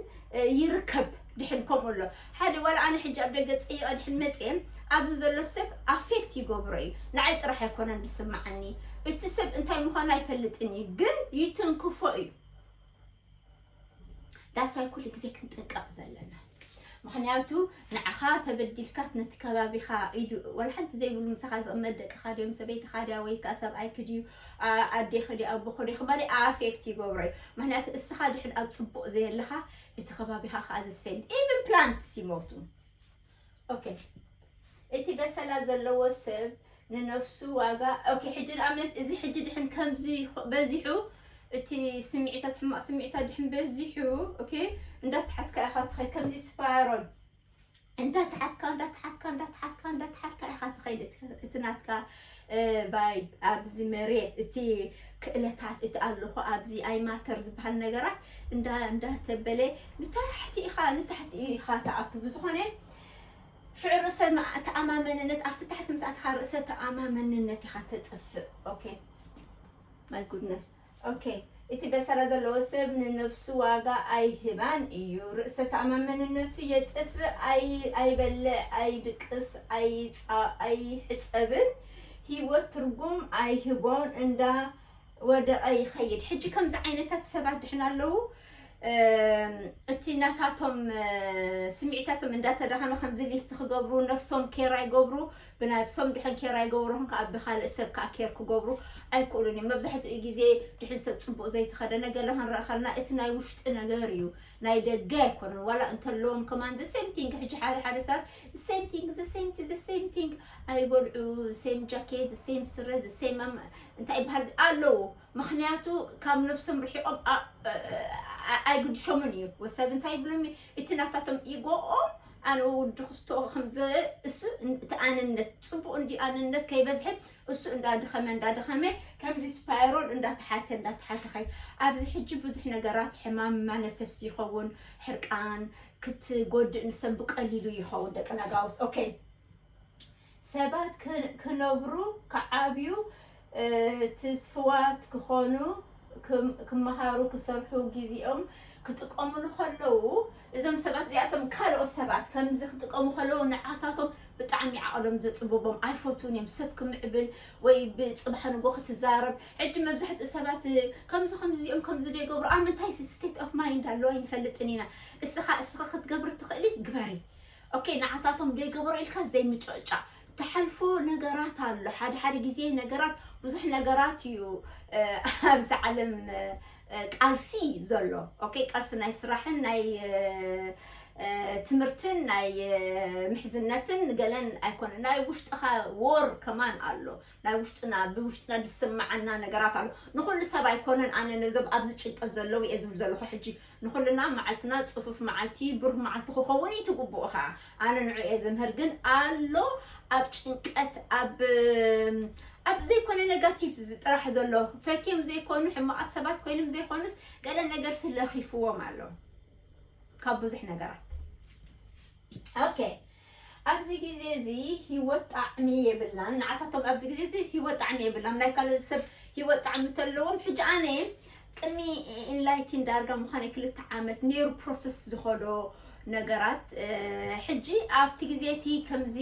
S1: ይርከብ ድሕን ከምኡ ኣሎ ሓደ ዋላ ኣነ ሕጂ ኣብ ደገ ጸይቀ ድሕን መጽየ ኣብዚ ዘሎ ሰብ ኣፌክት ይገብሮ እዩ ንዓይ ጥራሕ ኣይኮነን ዝስምዓኒ እቲ ሰብ እንታይ ምዃኑ ኣይፈልጥን እዩ ግን ይትንክፎ እዩ ዳስዋይ ኩሉ ግዜ ክንጥንቀቕ ዘለና ምክንያቱ ንዓኻ ተበዲልካት ነቲ ከባቢኻ ኢዱ ወላ ሓንቲ ዘይብሉ ምሳኻ ዝቕመጥ ደቅኻ ድዮም ሰበይትኻ ድያ ወይ ከዓ ሰብኣይክ ድዩ ኣዴኽ ድዩ ኣቦኽ ድዩ ክማሊ ኣፌክት ይገብሮ እዩ ምክንያቱ እስኻ ድሕን ኣብ ፅቡቕ ዘየለኻ እቲ ከባቢኻ ከዓ the same even plants ይሞቱ ኦኬ እቲ በሰላ ዘለዎ ሰብ ንነፍሱ ዋጋ ኦኬ ሕጂ ደኣ መስ- እዚ ሕጂ ድሕን ከምዚ ይኾ- በዚሑ እቲ ስምዒታት ሕማቕ ስምዒታት ድሕን በዚሑ ኦኬ እንዳተሓትካ ኢኻ ትኸይድ ከምዚ ስፓይሮል እንዳተሓትካ እንዳተሓትካ እንዳተሓትካ እንዳተሓትካ ኢኻ ትኸይድ እቲ ናትካ ባይ ኣብዚ መሬት እቲ ክእለታት እቲ ኣለኹ ኣብዚ ኣይ ማተር ዝበሃል ነገራት እንዳ እንዳተበለ ንታሕቲ ኢኻ ንታሕቲ ኢኻ ትኣቱ ብዝኾነ ሽዑ ርእሰ ተኣማመንነት ኣብቲ ታሕቲ ምስ ኣትኻ ርእሰ ተኣማመንነት ኢኻ ተጥፍእ ኦኬ ማይ ጉድነስ ok እቲ በሰላ ዘለዎ ሰብ ንነብሱ ዋጋ ኣይህባን እዩ ርእሰ ተኣማመንነቱ የጥፍእ ኣይ ኣይበልዕ ኣይድቅስ ኣይጻ ኣይሕጸብን ሂወት ትርጉም ኣይህቦን እንዳ ወደቐ ይኸይድ ሕጂ ከምዚ ዓይነታት ሰባት ድሕና ኣለዉ እቲ ናታቶም ስምዒታቶም እንዳተዳኸመ ከምዚ ሊስት ክገብሩ ነብሶም ኬር ኣይገብሩ ብናብሶም ድሕን ኬር ኣይገበሩን ከኣ ብካልእ ሰብ ከኣ ኬር ክገብሩ ኣይክእሉን እዮም መብዛሕትኡ ግዜ ድሕን ሰብ ጽቡቅ ዘይተከደነ ገለ ክንርኢ ከለና እቲ ናይ ውሽጢ ነገር እዩ ናይ ደገ ኣይኮነን ዋላ እንተለዎም ከማን the same thing ሕጂ ሓደ ሓደ ሰባት the same thing the same thing the same thing ኣይበልዑ same jacket the same ስረ the same ኣም- እንታይ ይበሃል ኣለዉ ምክንያቱ ካብ ነብሶም ርሒቆም ኣ- ኣ- ኣይግድሾምን እዩ ወሰብ እንታይ ይብሎም እዩ እቲ ናታቶም ኢጎኦም ኣነ ወዲ ክስቶ ከምዚ እሱ እቲ ኣነነት ፅቡቅ እንዲ ኣነነት ከይበዝሐ እሱ እንዳድኸመ እንዳድኸመ ከምዚ ስፓይሮል እንዳተሓተ እንዳተሓተ ከይ ኣብዚ ሕጂ ብዙሕ ነገራት ሕማም ማነፈስ ይኸውን ሕርቃን ክትጎድእ ንሰብ ብቀሊሉ ይኸውን ደቂ ነጋውስ ኦኬ ሰባት ክነብሩ፣ ክዓብዩ፣ ትስፍዋት ክኾኑ፣ ክመሃሩ፣ ክሰርሑ፣ ግዜኦም ክጥቀምሉ ከለዉ፣ እዞም ሰባት እዚኣቶም ካልኦት ሰባት ከምዚ ክጥቀሙ ከለዉ ንዓታቶም ብጣዕሚ ዓቕሎም ዘጽብቦም፣ ኣይፈትዉን እዮም፣ ሰብ ክምዕብል ወይ ብጽባሕ ንግሆ ክትዛረብ፣ ሕጂ መብዛሕትኡ ሰባት ከምዚ ከምዚ እዚኦም ከምዚ ዶ ይገብሩ፣ ኣብ ምንታይ ስቴት ኦፍ ማይንድ ኣለዉ ኣይንፈልጥን ኢና፣ እስኻ እስኺ ክትገብሪ ትኽእሊ ግበሪ። ኦኬ ንዓታቶም ዶ ይገበሮ ኢልካ ዘይምጭቕጫቕ ትሓልፎ ነገራት ኣሎ ሓደ ሓደ ግዜ ነገራት ብዙሕ ነገራት እዩ ኣብዚ ዓለም ቃልሲ ዘሎ ኦኬ ቃልሲ ናይ ስራሕን ናይ ትምህርትን ናይ ምሕዝነትን ገለን ኣይኮነ ናይ ውሽጥኻ ዎር ከማን ኣሎ ናይ ውሽጥና ብውሽጥና ዝስምዓና ነገራት ኣሎ ንኹሉ ሰብ ኣይኮነን ኣነ ነዞም ኣብዚ ጭንቀት ዘለዉ እየ ዝብል ዘለኹ ሕጂ ንኹልና መዓልትና ፅፉፍ መዓልቲ ብሩህ መዓልቲ ክኸውን እዩ ትግብኡ ከዓ ኣነ ንዑ እየ ዝምህር ግን ኣሎ ኣብ ጭንቀት ኣብ ኣብ ዘይኮነ ነጋቲቭ ጥራሕ ዘሎ ፈትዮም ዘይኮኑ ሕማቓት ሰባት ኮይኖም ዘይኮኑስ ገለ ነገር ስለኺፍዎም ኣሎ ካብ ብዙሕ ነገራት ኦኬ ኣብዚ ግዜ እዚ ሂወት ጣዕሚ የብላን ንዓታቶም ኣብዚ ግዜ እዚ ሂወት ጣዕሚ የብላም ናይ ካልእ ሰብ ሂወት ጣዕሚ ተለዎም ሕጂ ኣነ ቅድሚ ኢንላይቲን ዳርጋ ምዃነይ ክልተ ዓመት ነይሩ ፕሮሰስ ዝኸዶ ነገራት ሕጂ ኣብቲ ግዜ እቲ ከምዚ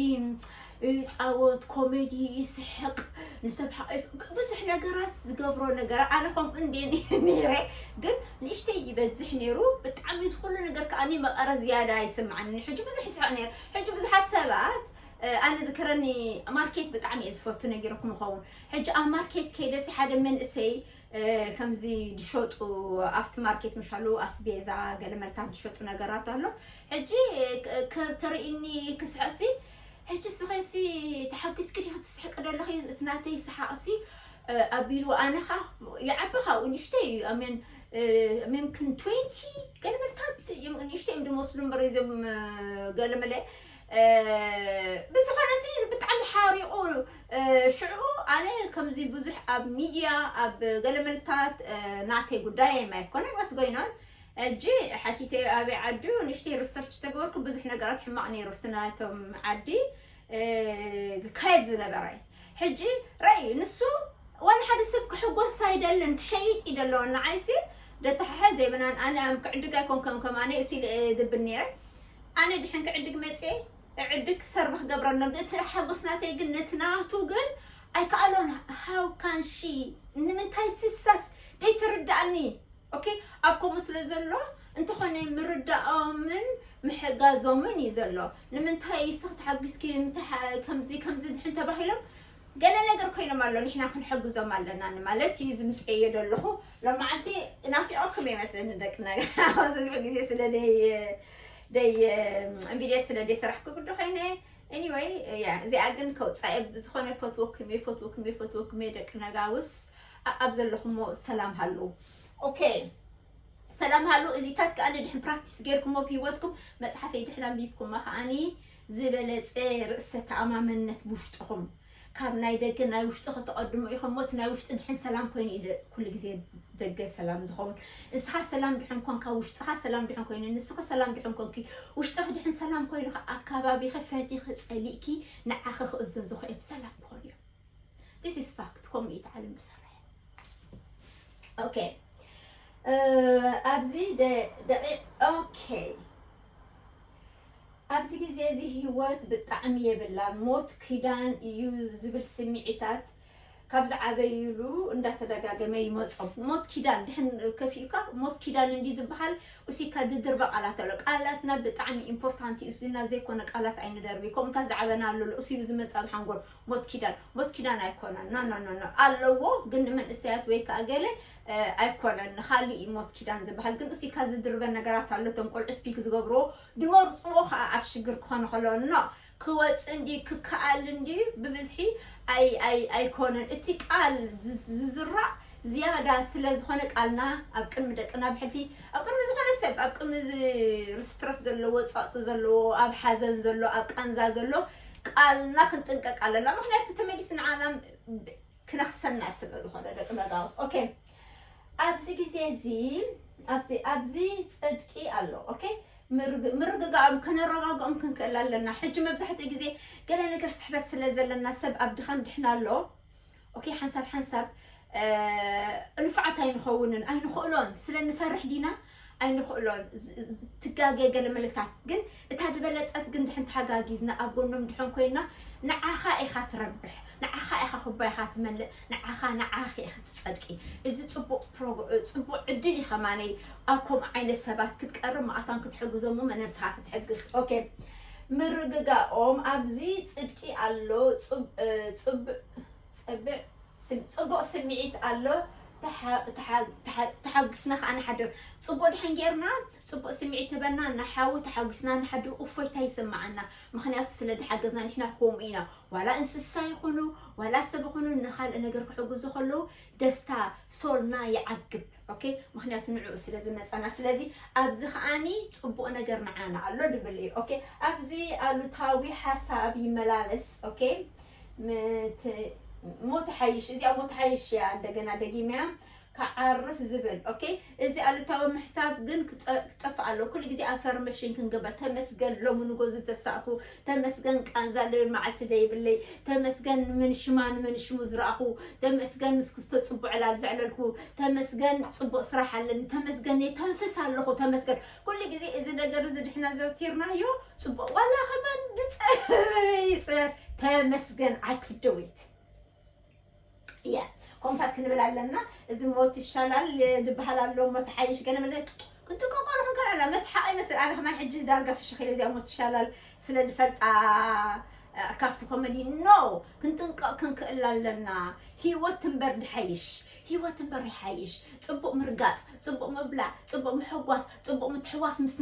S1: ይጻወት ኮሜዲ ይስሕቅ ንሰብ ሓቒፍ ብዙሕ ነገራት ዝገብሮ ነገር ኣነ ከምኡ እንድየ ነይረ ግን ንእሽተይ ይበዝሕ ነይሩ ብጣዕሚ ዝኩሉ ነገር ከዓ መቐረ ዝያዳ ይስምዓኒ ሕጂ ብዙሕ ይስሕቕ ነይረ ሕጂ ብዙሓት ሰባት ኣነ ዝከረኒ ማርኬት ብጣዕሚ እየ ዝፈቱ ነጊረኩም ይኸውን ሕጂ ኣብ ማርኬት ከይደሲ ሓደ መንእሰይ ከምዚ ዝሸጡ ኣብቲ ማርኬት ምሻሉ ኣስቤዛ ገለ መልታት ዝሸጡ ነገራት ኣሎ ሕጂ ተርእኒ ክስሕቕሲ ሕጂ እስኺሲ ተሓጒስኪ ዲኺ ትስሕቂ ደለኺ እቲ ናተይ ሰሓቕሲ ኣቢሉ ኣነ ከኣ ይዓቢ ካብኡ ንእሽተይ እዩ ኣሜን ኣሜን ክን ትዌንቲ ገለ መልታት እዮም ንእሽተይ እዮም ድመስሉ እምበር እዞም ገለ መለ ብዝኾነ ሲ ብጣዕሚ ሓሪቑ ሽዑ ኣነ ከምዚ ብዙሕ ኣብ ሚድያ ኣብ ገለ መልታት ናተይ ጉዳይ ኣይኮነን ወስ ጎይኖን ሕጂ ሓቲተዮ ኣበይ ዓዱ ንእሽተይ ሩሰርች ተገበርኩ ብዙሕ ነገራት ሕማቅ ነይሩ ኣብቲ ናቶም ዓዲ ዝካየድ ዝነበረ ሕጂ ረኣዩ ንሱ ዋላ ሓደ ሰብ ክሕጎስ ኣይደልን ክሸይጥ እዩ ደሎ ንዓይሲ ደተሓሐ ዘይብናን ኣነ ኣም ክዕድግ ኣይኮንከም ከማነ ዩ ሲል ድብል ነይረ ኣነ ድሕን ክዕድግ መጽኤ እዕድግ ክሰርቭ ክገብረ ሎ እቲ ሓጎስ ናተይ ግን ነቲ ናቱ ግን ኣይከኣሎን ሃው ካን ሺ ንምንታይ ስሳስ ደይትርዳእኒ ኦኬ ኣብ ከምኡ ስለ ዘሎ እንተኾነ ምርዳኦምን ምሕጋዞምን እዩ ዘሎ ንምንታይ እስኽ ተሓጒስኪ ከምዚ ከምዚ ድሕን ተባሂሎም ገለ ነገር ኮይኖም ኣሎ ንሕና ክንሕግዞም ኣለና ንማለት እዩ ዝምፅኤዮ ዘለኹ ሎመዓልቲ ናፊዖኩም ይመስለኒ ደቂ ነገር ዝበዝሕ ግዜ ስለ ደይ ደይ ቪድዮ ስለ ደይ ሰራሕኩ ግዲ ኮይነ ኤኒወይ እዚኣ ግን ከውፃኤ ብዝኾነ ፈትወኩም እየ ፈትወኩም እየ ፈትወኩም እየ ደቂ ነጋውስ ኣኣብ ዘለኹሞ ሰላም ሃልዉ ኦኬ ሰላም ሃሉ እዚታት ከኣ ድሕን ፕራክቲስ ጌርኩሞ ኣብ ሂወትኩም መጽሓፈይ ድሕን ኣንቢብኩማ ከኣኒ ዝበለጸ ርእሰ ተኣማመነት ብውሽጥኹም ካብ ናይ ደገ ናይ ውሽጢ ከተቐድሙ ኢኹም ሞት ናይ ውሽጢ ድሕን ሰላም ኮይኑ እዩ ኩሉ ግዜ ደገ ሰላም ዝኸውን ንስኻ ሰላም ድሕን ኮንካ ውሽጥኻ ሰላም ድሕን ኮይኑ ንስኺ ሰላም ድሕን ኮንኪ ውሽጥኺ ድሕን ሰላም ኮይኑ ኣካባቢኺ ፈቲኺ ጸሊእኪ ንዓኺ ክእዘዙ ኸእዮም ሰላም ክኾኑ እዮም ዲስ ኢዝ ፋክት ከምኡ እዩ እቲ ዓለም ዝሰርሕ ኦኬ ኣብዚ ደቂቕ ኦኬ ኣብዚ ግዜ እዚ ህይወት ብጣዕሚ የብላ ሞት ኪዳን እዩ ዝብል ስምዒታት ካብ ዝዓበይሉ እንዳተደጋገመ ይመፆም ሞት ኪዳን ድሕን ከፊኡካ ሞት ኪዳን እንዲ ዝበሃል እሲካ ድድርበ ቃላት ኣሎ ቃላትና ብጣዕሚ ኢምፖርታንት እዩ እዚና ዘይኮነ ቃላት ኣይንደርቢ ከምኡታት ዝዓበናሉ እሱ እዩ ዝመፃ ብሓንጎል ሞት ኪዳን ሞት ኪዳን ኣይኮነን ኖ ኖ ኖ ኖ ኣለዎ ግን ንመንእሰያት ወይ ከዓ ገለ እ፣ ኣይኮነን ንካልእ እዩ ሞት ኪዳን ዝበሃል ግን እሱይ ካብ ዝድርበን ነገራት ኣሎ እቶም ቆልዑት ፒክ ዝገብርዎ ድመርፅዎ ከዓ ኣብ ሽግር ክኾነ ከሎ ኖ ክወፅእ እንድዩ ክከኣል እንድዩ ብብዝሒ ኣይ ኣይ ኣይኮነን እቲ ቃል ዝዝ- ዝዝራእ ዝያዳ ስለ ዝኾነ ቃልና ኣብ ቅድሚ ደቅና ኣብ ሕልፊ ኣብ ቅድሚ ዝኾነ ሰብ ኣብ ቅድሚ ዝ- ርስትረስ ዘለዎ ፀቕጢ ዘለዎ ኣብ ሓዘን ዘሎ ኣብ ቃንዛ ዘሎ ቃልና ክንጥንቀቅ ኣለና ምክንያቱ ተመሊስ ንዓና ክነክሰና ስለ ዝኾነ ደቂ መጋውስ ኦኬ ኣብዚ ግዜ እዚ ኣብዚ ኣብዚ ጽድቂ ኣሎ ኦኬ ምርግጋኦም ከነረጋግኦም ክንክእል ኣለና ሕጂ መብዛሕትኡ ግዜ ገለ ነገር ስሕበት ስለ ዘለና ሰብ ኣብ ድኻም ድሕና ኣሎ ኦኬ ሓንሳብ ሓንሳብ ንፉዓት ኣይንኸውንን ኣይንኽእሎን ስለ ንፈርሕ ዲና ኣይንኽእሎን ትጋገ ገለ መልታት ግን እታ ዝበለፀት ግን ድሕን ተሓጋጊዝና ኣብ ጎኖም ድሕን ኮይና ንዓኻ ኢኻ ትረብሕ ንዓኻ ኢኻ ኩባይኻ ትመልእ ንዓኻ ንዓኺ ኢኺ ትፀድቂ እዚ ፅቡቅ ፅቡቅ ዕድል እዩ ከማነይ ኣብ ከምኡ ዓይነት ሰባት ክትቀርብ ማእታን ክትሕግዞም መነብስኻ ክትሕግዝ ኦኬ ምርግጋኦም ኣብዚ ጽድቂ ኣሎ ጽቡቅ ስሚዒት ኣሎ ተሓጉስና ከኣ ንሓድር ጽቡቅ ድሕን ጌርና ጽቡቅ ስሚዒት ህበና ንሓዊ ተሓጉስና ንሓድር ኡፎይታ ይስማዓና ምክንያቱ ስለ ድሓገዝና ንሕና ኮምኡ ኢና ዋላ እንስሳ ይኩኑ ዋላ ሰብ ይኩኑ ንካልእ ነገር ክሕጉዙ ከለዉ ደስታ ሶልና ይዓግብ ኦኬ ምክንያቱ ንዕኡ ስለ ዝመፀና ስለዚ ኣብዚ ከዓኒ ፅቡቅ ነገር ንዓና ኣሎ ንብል እዩ ኦኬ ኣብዚ ኣሉታዊ ሓሳብ ይመላለስ ኦኬ ሞት ሓይሽ እዚኣ ሞት ሓይሽ እያ እንደገና ደጊመያ ክዓርፍ ዝብል ኦኬ እዚ ኣሉታዊ ምሕሳብ ግን ክጠፍእ ኣሎ ኩሉ ግዜ ኣፈርሜሽን ክንግበር ተመስገን ሎሚ ንጎ ዝተሳእኩ ተመስገን ቃንዛ ልብል መዓልቲ ደይብለይ ተመስገን ንምንሽማ ንምንሽሙ ዝረኣኹ ተመስገን ምስ ክስቶ ጽቡዕ ዕላል ዘዕለልኩ ተመስገን ጽቡቕ ስራሕ ኣለኒ ተመስገን የተንፍስ ኣለኹ ተመስገን ኩሉ ግዜ እዚ ነገር እዚ ድሕና ዘውቲርናዮ ጽቡቕ ዋላ ከማን ዝጸበበ ይጽበብ ተመስገን ኣይ ክደወይት እያ ኮምታት ክንብል ኣለና እዚ ሞት ይሻላል ድበሃል ኣሎ እሞ ተሓይሽ ገለ መለ ክንጥቀቆ ንኹን ከላና መስሓቂ ይመስል ኣነ ከማን ሕጂ ዳርጋ ፍሽኽ ኢለ እዚኣ ሞት ይሻላል ስለ ድፈልጣ ካብቲ ኮሜዲ ኖ ክንጥንቀቕ ክንክእል ኣለና ሂወት እምበር ድሓይሽ ሂወት እምበር ይሓይሽ ፅቡቕ ምርጋፅ ፅቡቕ ምብላዕ ፅቡቕ ምሕጓስ ፅቡቕ ምትሕዋስ ምስ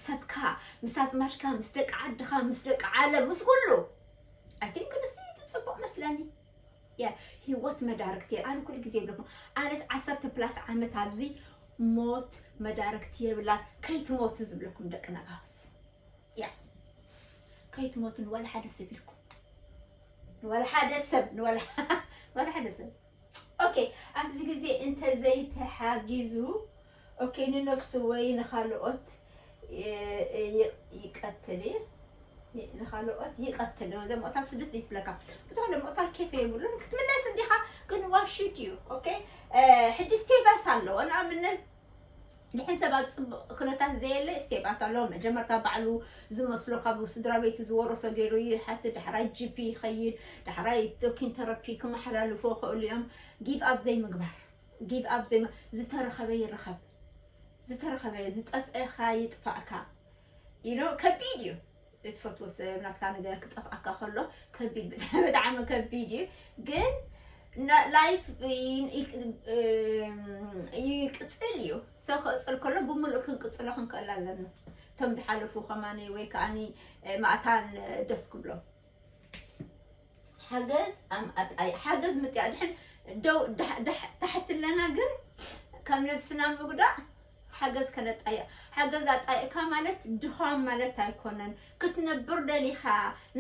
S1: ሰብካ ምስ ኣዝማድካ ምስ ደቂ ዓድኻ ምስ ደቂ ዓለም ምስ ኩሉ ኣይ ቲንክ ንሱ እዩ እቲ ፅቡቕ መስለኒ ያ ሂወት መዳርግቲ ኣነ ኩሉ ግዜ ይብለኩም ኣነስ ዓሰርተ ፕላስ ዓመት ኣብዚ ሞት መዳርግቲ የብላን ከይትሞቱ ዝብለኩም ደቂ ነጋውስ ያ ከይትሞቱ ንዋላ ሓደ ሰብ ኢልኩም ንዋላ ሓደ ሰብ ንዋላ ንዋላ ሓደ ሰብ ኦኬ ኣብዚ ግዜ እንተዘይተሓጊዙ ኦኬ ንነፍሱ ወይ ንኻልኦት ይቀትል እየ ንኻልኦት ይቀትል ዶ ዘምቕታል ስድስት እዩ ትብለካ ብዙሕ ለምቕታል ኬፍ የብሉን ክትምለስ እንዲኻ ግን ዋሽት እዩ ኦኬ ሕጂ ስቴባስ ኣለዎ ንኣብነት ድሕን ሰብ ኣብ ፅቡቅ ኩነታት ዘየለ ስቴባት ኣሎ መጀመርታ ባዕሉ ዝመስሎ ካብ ስድራ ቤቱ ዝወረሶ ገይሩ ይሓቲ ዳሕራይ ጂፒ ይኸይድ ዳሕራይ ቶኪን ተረፒ ክመሓላልፎ ክእሉ እዮም ጊቭ ኣብ ዘይምግባር ጊቭ ኣፕ ዘይም ዝተረኸበ ይረኸብ ዝተረኸበ ዝጠፍእኻ ይጥፋእካ you know ከቢድ እዩ እትፈትዎ ሰብ ናትካ ነገር ክጠፍኣካ ከሎ ከቢድ ብጣዕሚ ብጣዕሚ ከቢድ እዩ ግን ና- ላይፍ ይ- ይ- እም፣ ይቅፅል እዩ ሰው ክቅፅል ከሎ ብምሉእ ክንቅፅሎ ክንክእል ኣለና እቶም ዝሓለፉ ከማኒ ወይ ከዓኒ ማእታን ደስ ክብሎም ሓገዝ ኣምኣጣይ ሓገዝ ምጥያ ድሕን ደው ታሕትለና ግን ከም ልብስና ምጉዳእ ሓገዝ ከነጣይቕ ሓገዝ ኣጣይቕካ ማለት ድኻም ማለት ኣይኮነን ክትነብር ደሊኻ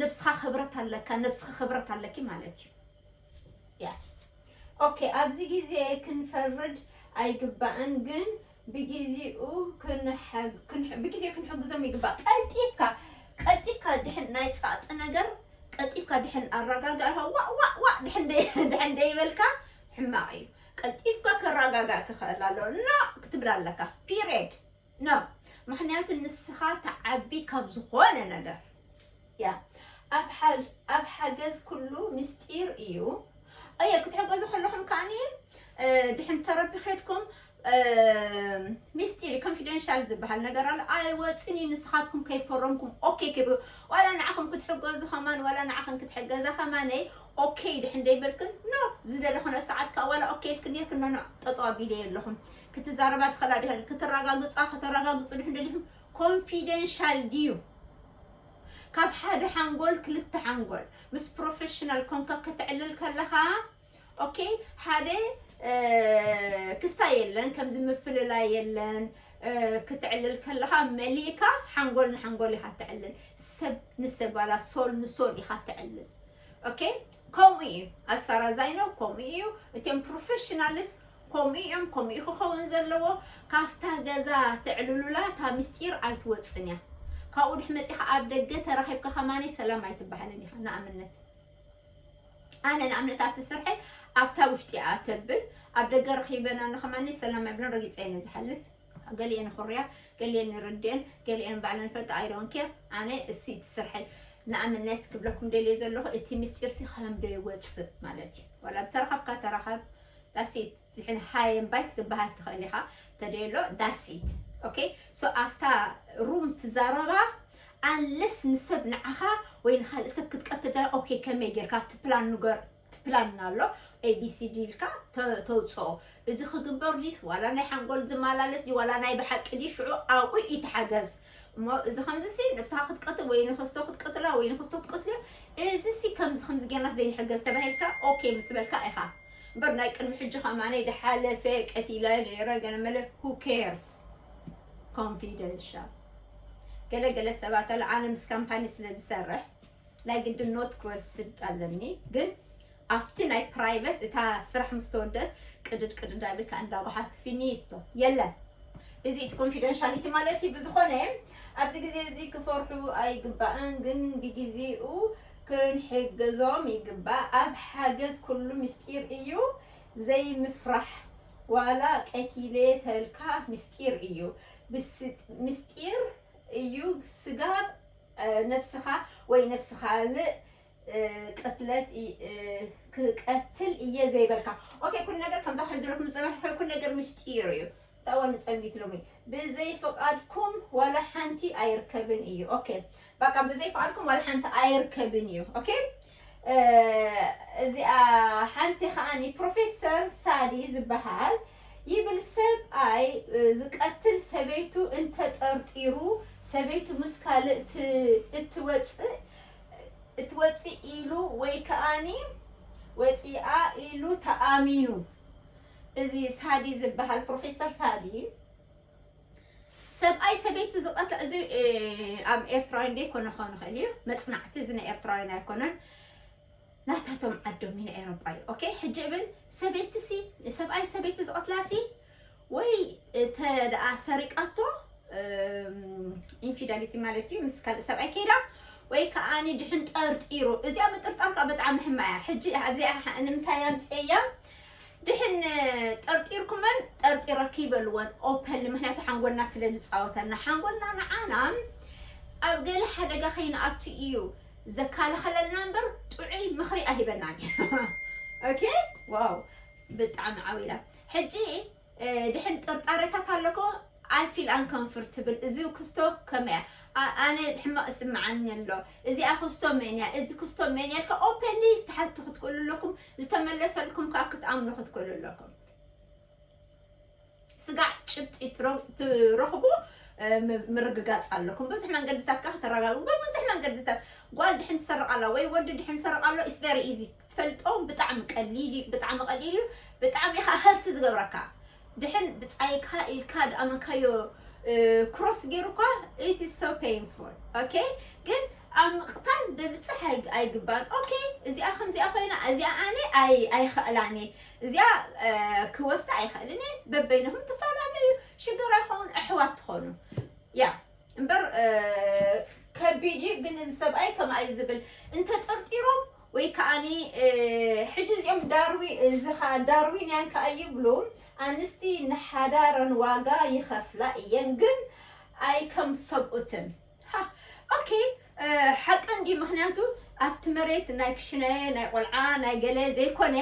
S1: ነብስኻ ክብረት ኣለካ ነብስኻ ክብረት ኣለኪ ማለት እዩ ያ ኦኬ ኣብዚ ግዜ ክንፈርድ ኣይግባእን ግን ብጊዚኡ ክንሕግዞም ይግባእ። ቀልጢፍካ ቀልጢፍካ ድሕን ናይ ጸቕጢ ነገር ቀልጢፍካ ድሕን ኣራጋጋእካ ዋእ ዋእ ዋእ ድሕን ደይበልካ ሕማቕ እዩ። ቀልጢፍካ ከራጋጋእ ክኸእል ኣለዎ። ኖእ ክትብል ኣለካ ፒሬድ። ኖእ ምክንያቱ ንስኻ ትዓቢ ካብ ዝኾነ ነገር። እያ ኣብ ሓገዝ ኩሉ ምስጢር እዩ ኣየ ክትሕገዙ ከለኹም ከዓኒ ድሕን ተረቢ ከድኩም ሚስጢር ኮንፊደንሻል ዝበሃል ነገር ኣሎ ኣይወፅን እዩ ንስኻትኩም ከይፈረምኩም ኦኬ ክብ ዋላ ንዓኹም ክትሕገዙ ከማን ዋላ ንዓኽን ክትሕገዛ ከማነይ ኦኬ ድሕን ደይበልክን ኖ ዝደለኹን ኣብ ሰዓት ከዓ ዋላ ኦኬ ኢልክን ነርክን ኖ ጠጠው ኣቢለ የለኹም ክትዛረባ ትኽእላ ክትረጋግፃ ከተረጋግፁ ድሕን ደሊኹም ኮንፊደንሻል ድዩ ካብ ሓደ ሓንጎል ክልተ ሓንጎል ምስ ፕሮፌሽናል ኮንካ ከተዕልል ከለኻ ኦኬ ሓደ ክስታይ የለን ከምዚ ምፍልላይ የለን ክትዕልል ከለኻ መሊእካ ሓንጎል ንሓንጎል ኢኻ ተዕልል ሰብ ንሰብ ባላ ሶል ንሶል ኢኻ ተዕልል ኦኬ ከምኡ ኢዩ as far as I know ከምኡ ኢዩ እቶም ፕሮፈሽናልስ ከምኡ ኢዮም ከምኡ ኢዩ ክከውን ዘለዎ ካብታ ገዛ ተዕልሉላ እታ ምስጢር ኣይትወጽን ኢያ ካብኡ ድሕሪ መጺኻ ኣብ ደገ ተራኺብካ ከማን ሰላም ኣይትበሃልን ኢኻ ንኣብነት ኣነ ንኣብነት ኣብቲ ስርሐይ ኣብታ ውሽጢ እያ ተብል ኣብ ደገ ረኺበና ንኸማኒ ሰላም ኣይብለን ረጊፀ እየ ዝሓልፍ ገሊኤን ይኹርያ ገሊኤን ይርድኤን ገሊኤን ባዕለን ይፈልጣ ኣይ ዶንት ኬር ኣነ እሱ እዩ እቲ ስርሐይ ንኣብነት ክብለኩም ደልየ ዘለኹ እቲ ምስጢርሲ ከምዶ ይወፅእ ማለት እዩ ዋላ ብተረኸብካ ተረኸብ ዳሲት ዝሕን ሃየን ባይ ክትበሃል ትኽእል ኢኻ ተደሎ ዳሲት ኦኬ ሶ ኣፍታ ሩም ትዛረባ ኣንለስ ንሰብ ንዓኻ ወይ ንካልእ ሰብ ክትቀትል ኦኬ ከመይ ጌርካ እቲ ፕላን ንገር ፕላን ኣሎ ኤቢሲዲ ኢልካ ተውፅኦ እዚ ክግበር ድዩስ ዋላ ናይ ሓንጎል ዝመላለስ ድዩ ዋላ ናይ ብሓቂ ድዩ ሽዑ ኣብኡ እዩ ተሓገዝ እሞ እዚ ከምዚሲ ነብስኻ ክትቀትል ወይ ንክስቶ ክትቀትላ ወይ ንክስቶ ክትቀትልዮ እዚሲ ከምዚ ከምዚ ጌርናስ ዘይንሕገዝ ተባሂልካ ኦኬ ምስ በልካ ኢኻ እምበር ናይ ቅድሚ ሕጂ ከማነይ ድሓለፈ ቀቲለ ነይረ ገለመለ ሁ ኬርስ ኮንፊደንሻል ገለገለ ሰባት ኣለ ኣነ ምስ ካምፓኒ ስለ ዝሰርሕ ናይ ግድን ኖት ክወስድ ኣለኒ ግን ኣብቲ ናይ ፕራይቨት እታ ስራሕ ምስ ተወደት ቅድድ ቅድድ ኣቢልካ እንዳ ጎሓፍ ፊኒቶ የለን እዚ እቲ ኮንፊደንሻሊቲ ማለት እዩ ብዝኾነ ኣብዚ ግዜ እዚ ክፈርሑ ኣይግባእን ግን ብግዜኡ ክንሕገዞም ይግባእ ኣብ ሓገዝ ኩሉ ምስጢር እዩ ዘይምፍራሕ ዋላ ቀቲለ ተልካ ምስጢር እዩ ምስጢር እዩ ስጋብ ነፍስኻ ወይ ነፍሲ ካልእ ቅትለት ክቀትል እየ ዘይበልካ ኦኬ ኩሉ ነገር ከምታ ክሕብረኩም ዝጸናሕኩ ኩሉ ነገር ምስጢር እዩ ታዋ ንጸቢት ሎሚ ብዘይ ፍቃድኩም ዋላ ሓንቲ ኣይርከብን እዩ ኦኬ ባቃ ብዘይ ፍቃድኩም ዋላ ሓንቲ ኣይርከብን እዩ ኦኬ እዚኣ ሓንቲ ከዓኒ ፕሮፌሰር ሳሊ ዝበሃል ይብል ሰብኣይ ዝቀትል ሰበይቱ እንተጠርጢሩ ሰበይቱ ምስ ካልእ እትወፅእ እትወፅእ ኢሉ ወይ ከዓኒ ወፂኣ ኢሉ ተኣሚኑ እዚ ሳዲ ዝበሃል ፕሮፌሰር ሳዲ ሰብኣይ ሰበይቱ ዝቀትላ እዚ ኣብ ኤርትራውያን ዘይኮነ ክኸውን ይኽእል እዩ መፅናዕቲ እዚ ናይ ኤርትራውያን ኣይኮነን ናታቶም ዓዶም እዩ ኤሮጳ እዩ ኦኬ ሕጂ እብል ሰበይቲ ሲ ሰብኣይ ሰበይቱ ዝቀትላ ሲ ወይ እተ ደኣ ሰሪቃቶ ኢንፊዳሊቲ ማለት እዩ ምስ ካልእ ሰብኣይ ከይዳ ወይ ከዓኒ ድሕን ጠርጢሩ እዚኣ ምጥርጣር ከዓ ብጣዕሚ ሕማያ ሕጂ ኣብዚኣ ንምንታይ ኣምፅኤያ ድሕን ጠርጢርኩመን ጠርጢረኪ በልወን ኦፐንሊ ምክንያቱ ሓንጎልና ስለ ዝፃወተልና ሓንጎልና ንዓና ኣብ ገለ ሓደጋ ከይንኣቱ እዩ ዘካላኸለልና እምበር ጥዑይ ምኽሪ ኣይህበናን እዩ ኦኬ ዋው ብጣዕሚ ዓው ኢላ ሕጂ ድሕን ጥርጣረታት ኣለኮ ኣይ ፊል ኣንኮንፍርትብል እዚ ክስቶ ከመይ እያ ኣ- ኣነ ሕማቅ ይስምዓኒ ኣሎ እዚኣ ክስቶ መን እያ እዚ ክስቶ መን እያ ኢልካ ኦፐንሊ ትሓቱ ክትክእሉ ኣለኩም ዝተመለሰልኩም ከዓ ክትኣምኑ ክትክእሉ ኣለኩም ስጋዕ ጭብጢ ትረ- ትረኽቡ እ፣ ም- ምርግጋፅ ኣለኩም ብዙሕ መንገድታት ከዓ ከተረጋግቡ ብብዙሕ መንገድታት ጓል ድሕን ትሰርቅ ኣላ ወይ ወዲ ድሕን ትሰርቅ ኣሎ ኢስ ቨሪ ኢዚ ትፈልጦም ብጣዕሚ ቀሊል እዩ ብጣዕሚ ቀሊል እዩ ብጣዕሚ ኢኻ ሀርት ዝገብረካ ድሕን ብፃይካ ኢልካ ድኣመካዮ ክሮስ ገይሩኳ ኢት ኢዝ ሶ ፔንፉል ኦኬ ግን ኣብ ምቕታል ብምፅሕ ኣይ- ኣይግባን ኦኬ እዚኣ ከምዚኣ ኮይና እዚኣ ኣነ ኣይ- ኣይኽእላን እየ እዚኣ እ፣ ክወስዳ ኣይኽእልን እየ በበይንኹም ትፈላለዩ ሽግር ኣይኸውን ኣሕዋት ትኾኑ ያ እምበር ከቢድ እዩ ግን እዚ ሰብኣይ ከምኣ እዩ ዝብል እንተጠርጢሮም ወይ ከዓ ሕጂ እዚኦም ዳርዊ እዚ ከዓ ዳርዊንያን ከዓ ይብሉ ኣንስቲ ንሓዳረን ዋጋ ይኸፍላ እየን ግን ኣይከም ሰብኡትን ሃ ኦኬ ሓቂ እንድዩ ምክንያቱ ኣብቲ መሬት ናይ ክሽነ ናይ ቆልዓ ናይ ገለ ዘይኮነ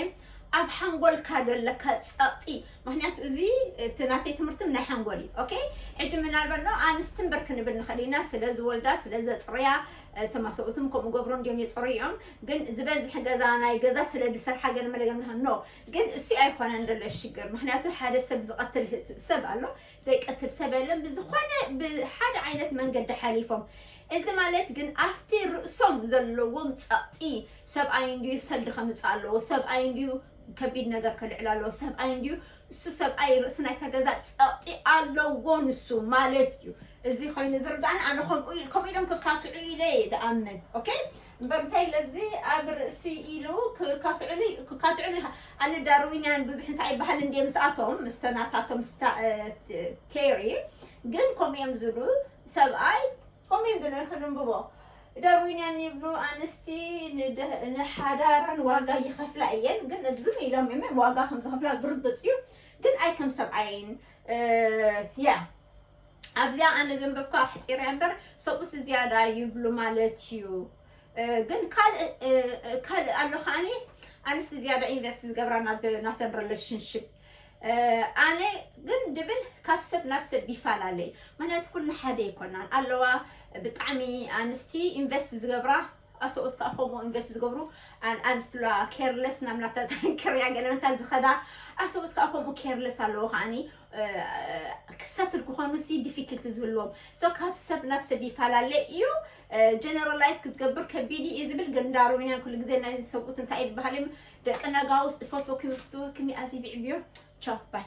S1: ኣብ ሓንጎልካ ዘለካ ጸቕጢ ምክንያቱ እዚ እቲ ናተይ ትምህርትም ናይ ሓንጎል እዩ ኦኬ ሕጂ ምናልባት ኖ ኣንስቲ እምበር ክንብል ንኽእል ኢና ስለ ዝወልዳ ስለ ዘጽርያ እቶም ኣሰብኡትም ከምኡ ገብሮ እንድዮም የጽሩ እዮም ግን ዝበዝሕ ገዛ ናይ ገዛ ስለ ዝሰርሓ ገለ መለገ ኖ ግን እሱ ኣይኮነን ዘሎ ሽግር ምክንያቱ ሓደ ሰብ ዝቐትል ሰብ ኣሎ ዘይቀትል ሰብ የለን ብዝኾነ ብሓደ ዓይነት መንገዲ ሓሊፎም እዚ ማለት ግን ኣብቲ ርእሶም ዘለዎም ጸቕጢ ሰብኣይ እንድዩ ሰልዲ ከምጽእ ኣለዎ ሰብኣይ እንድዩ ከቢድ ነገር ከልዕል ኣለዎ ሰብኣይ እንድዩ እሱ ሰብኣይ ርእሲ ናይታ ገዛ ጸቕጢ ኣለዎ ንሱ ማለት እዩ እዚ ኮይኑ ዝርዳእኒ ኣነ ከምኡ ከምኡ ኢሎም ክካትዑ ኢለ እየ ድኣምን ኦኬ እምበር እንታይ ኢለ ኣብዚ ኣብ ርእሲ ኢሉ ክካትዑሉ ክካትዑሉ ኣነ ዳርዊንያን ብዙሕ እንታይ ይበሃል እንድየ ምስኣቶም ምስተ ናታቶም ስታ ቴሪ ግን ከምኡ እዮም ዝብሉ ሰብኣይ ከምኡ እዮም ዝብሉ ክንብቦ ዳርዊንያን ይብሉ ኣንስቲ ንደ- ንሓዳረን ዋጋ ይኸፍላ እየን ግን እብዝም ኢሎም እዮም ዋጋ ከም ዝኸፍላ ብርግፅ እዩ ግን ኣይ ከም ሰብኣይን ያ ኣብዚኣ ኣነ ዘንበብካ ኣሕፂረ እምበር ሰብኡስ ዝያዳ ይብሉ ማለት እዩ ግን ካልእ ካልእ ኣሎ ከዓኒ ኣንስቲ ዝያዳ ኢንቨስት ዝገብራ ናብ ናተን ሪሌሽንሽፕ ኣነ ግን ድብል ካብ ሰብ ናብ ሰብ ይፈላለ እዩ ምክንያቱ ኩልና ሓደ ኣይኮናን ኣለዋ ብጣዕሚ ኣንስቲ ኢንቨስት ዝገብራ ኣሰኦት ከዓ ከምኡ ኢንቨስት ዝገብሩ ኣንስቲ ኣለዋ ኬርለስ ናብ ናታ ተንክርያ ገለመታ ዝኸዳ ኣሰኦት ከዓ ከምኡ ኬርለስ ኣለዎ ከዓኒ ክሰትል ክኾኑ ሲ ዲፊክልቲ ዝህልዎም ሶ ካብ ሰብ ናብ ሰብ ይፈላለ እዩ ጀነራላይዝ ክትገብር ከቢድ እዩ ዝብል ግን እንዳ ሮሚንያን ኩሉ ግዜ ናይ ዝሰብኡት እንታይ እዩ ዝበሃል እዮም ደቂ ነጋውስ እፈትወኩም እፍትወኩም ኣዚ ብዕብዮ ቻው ባይ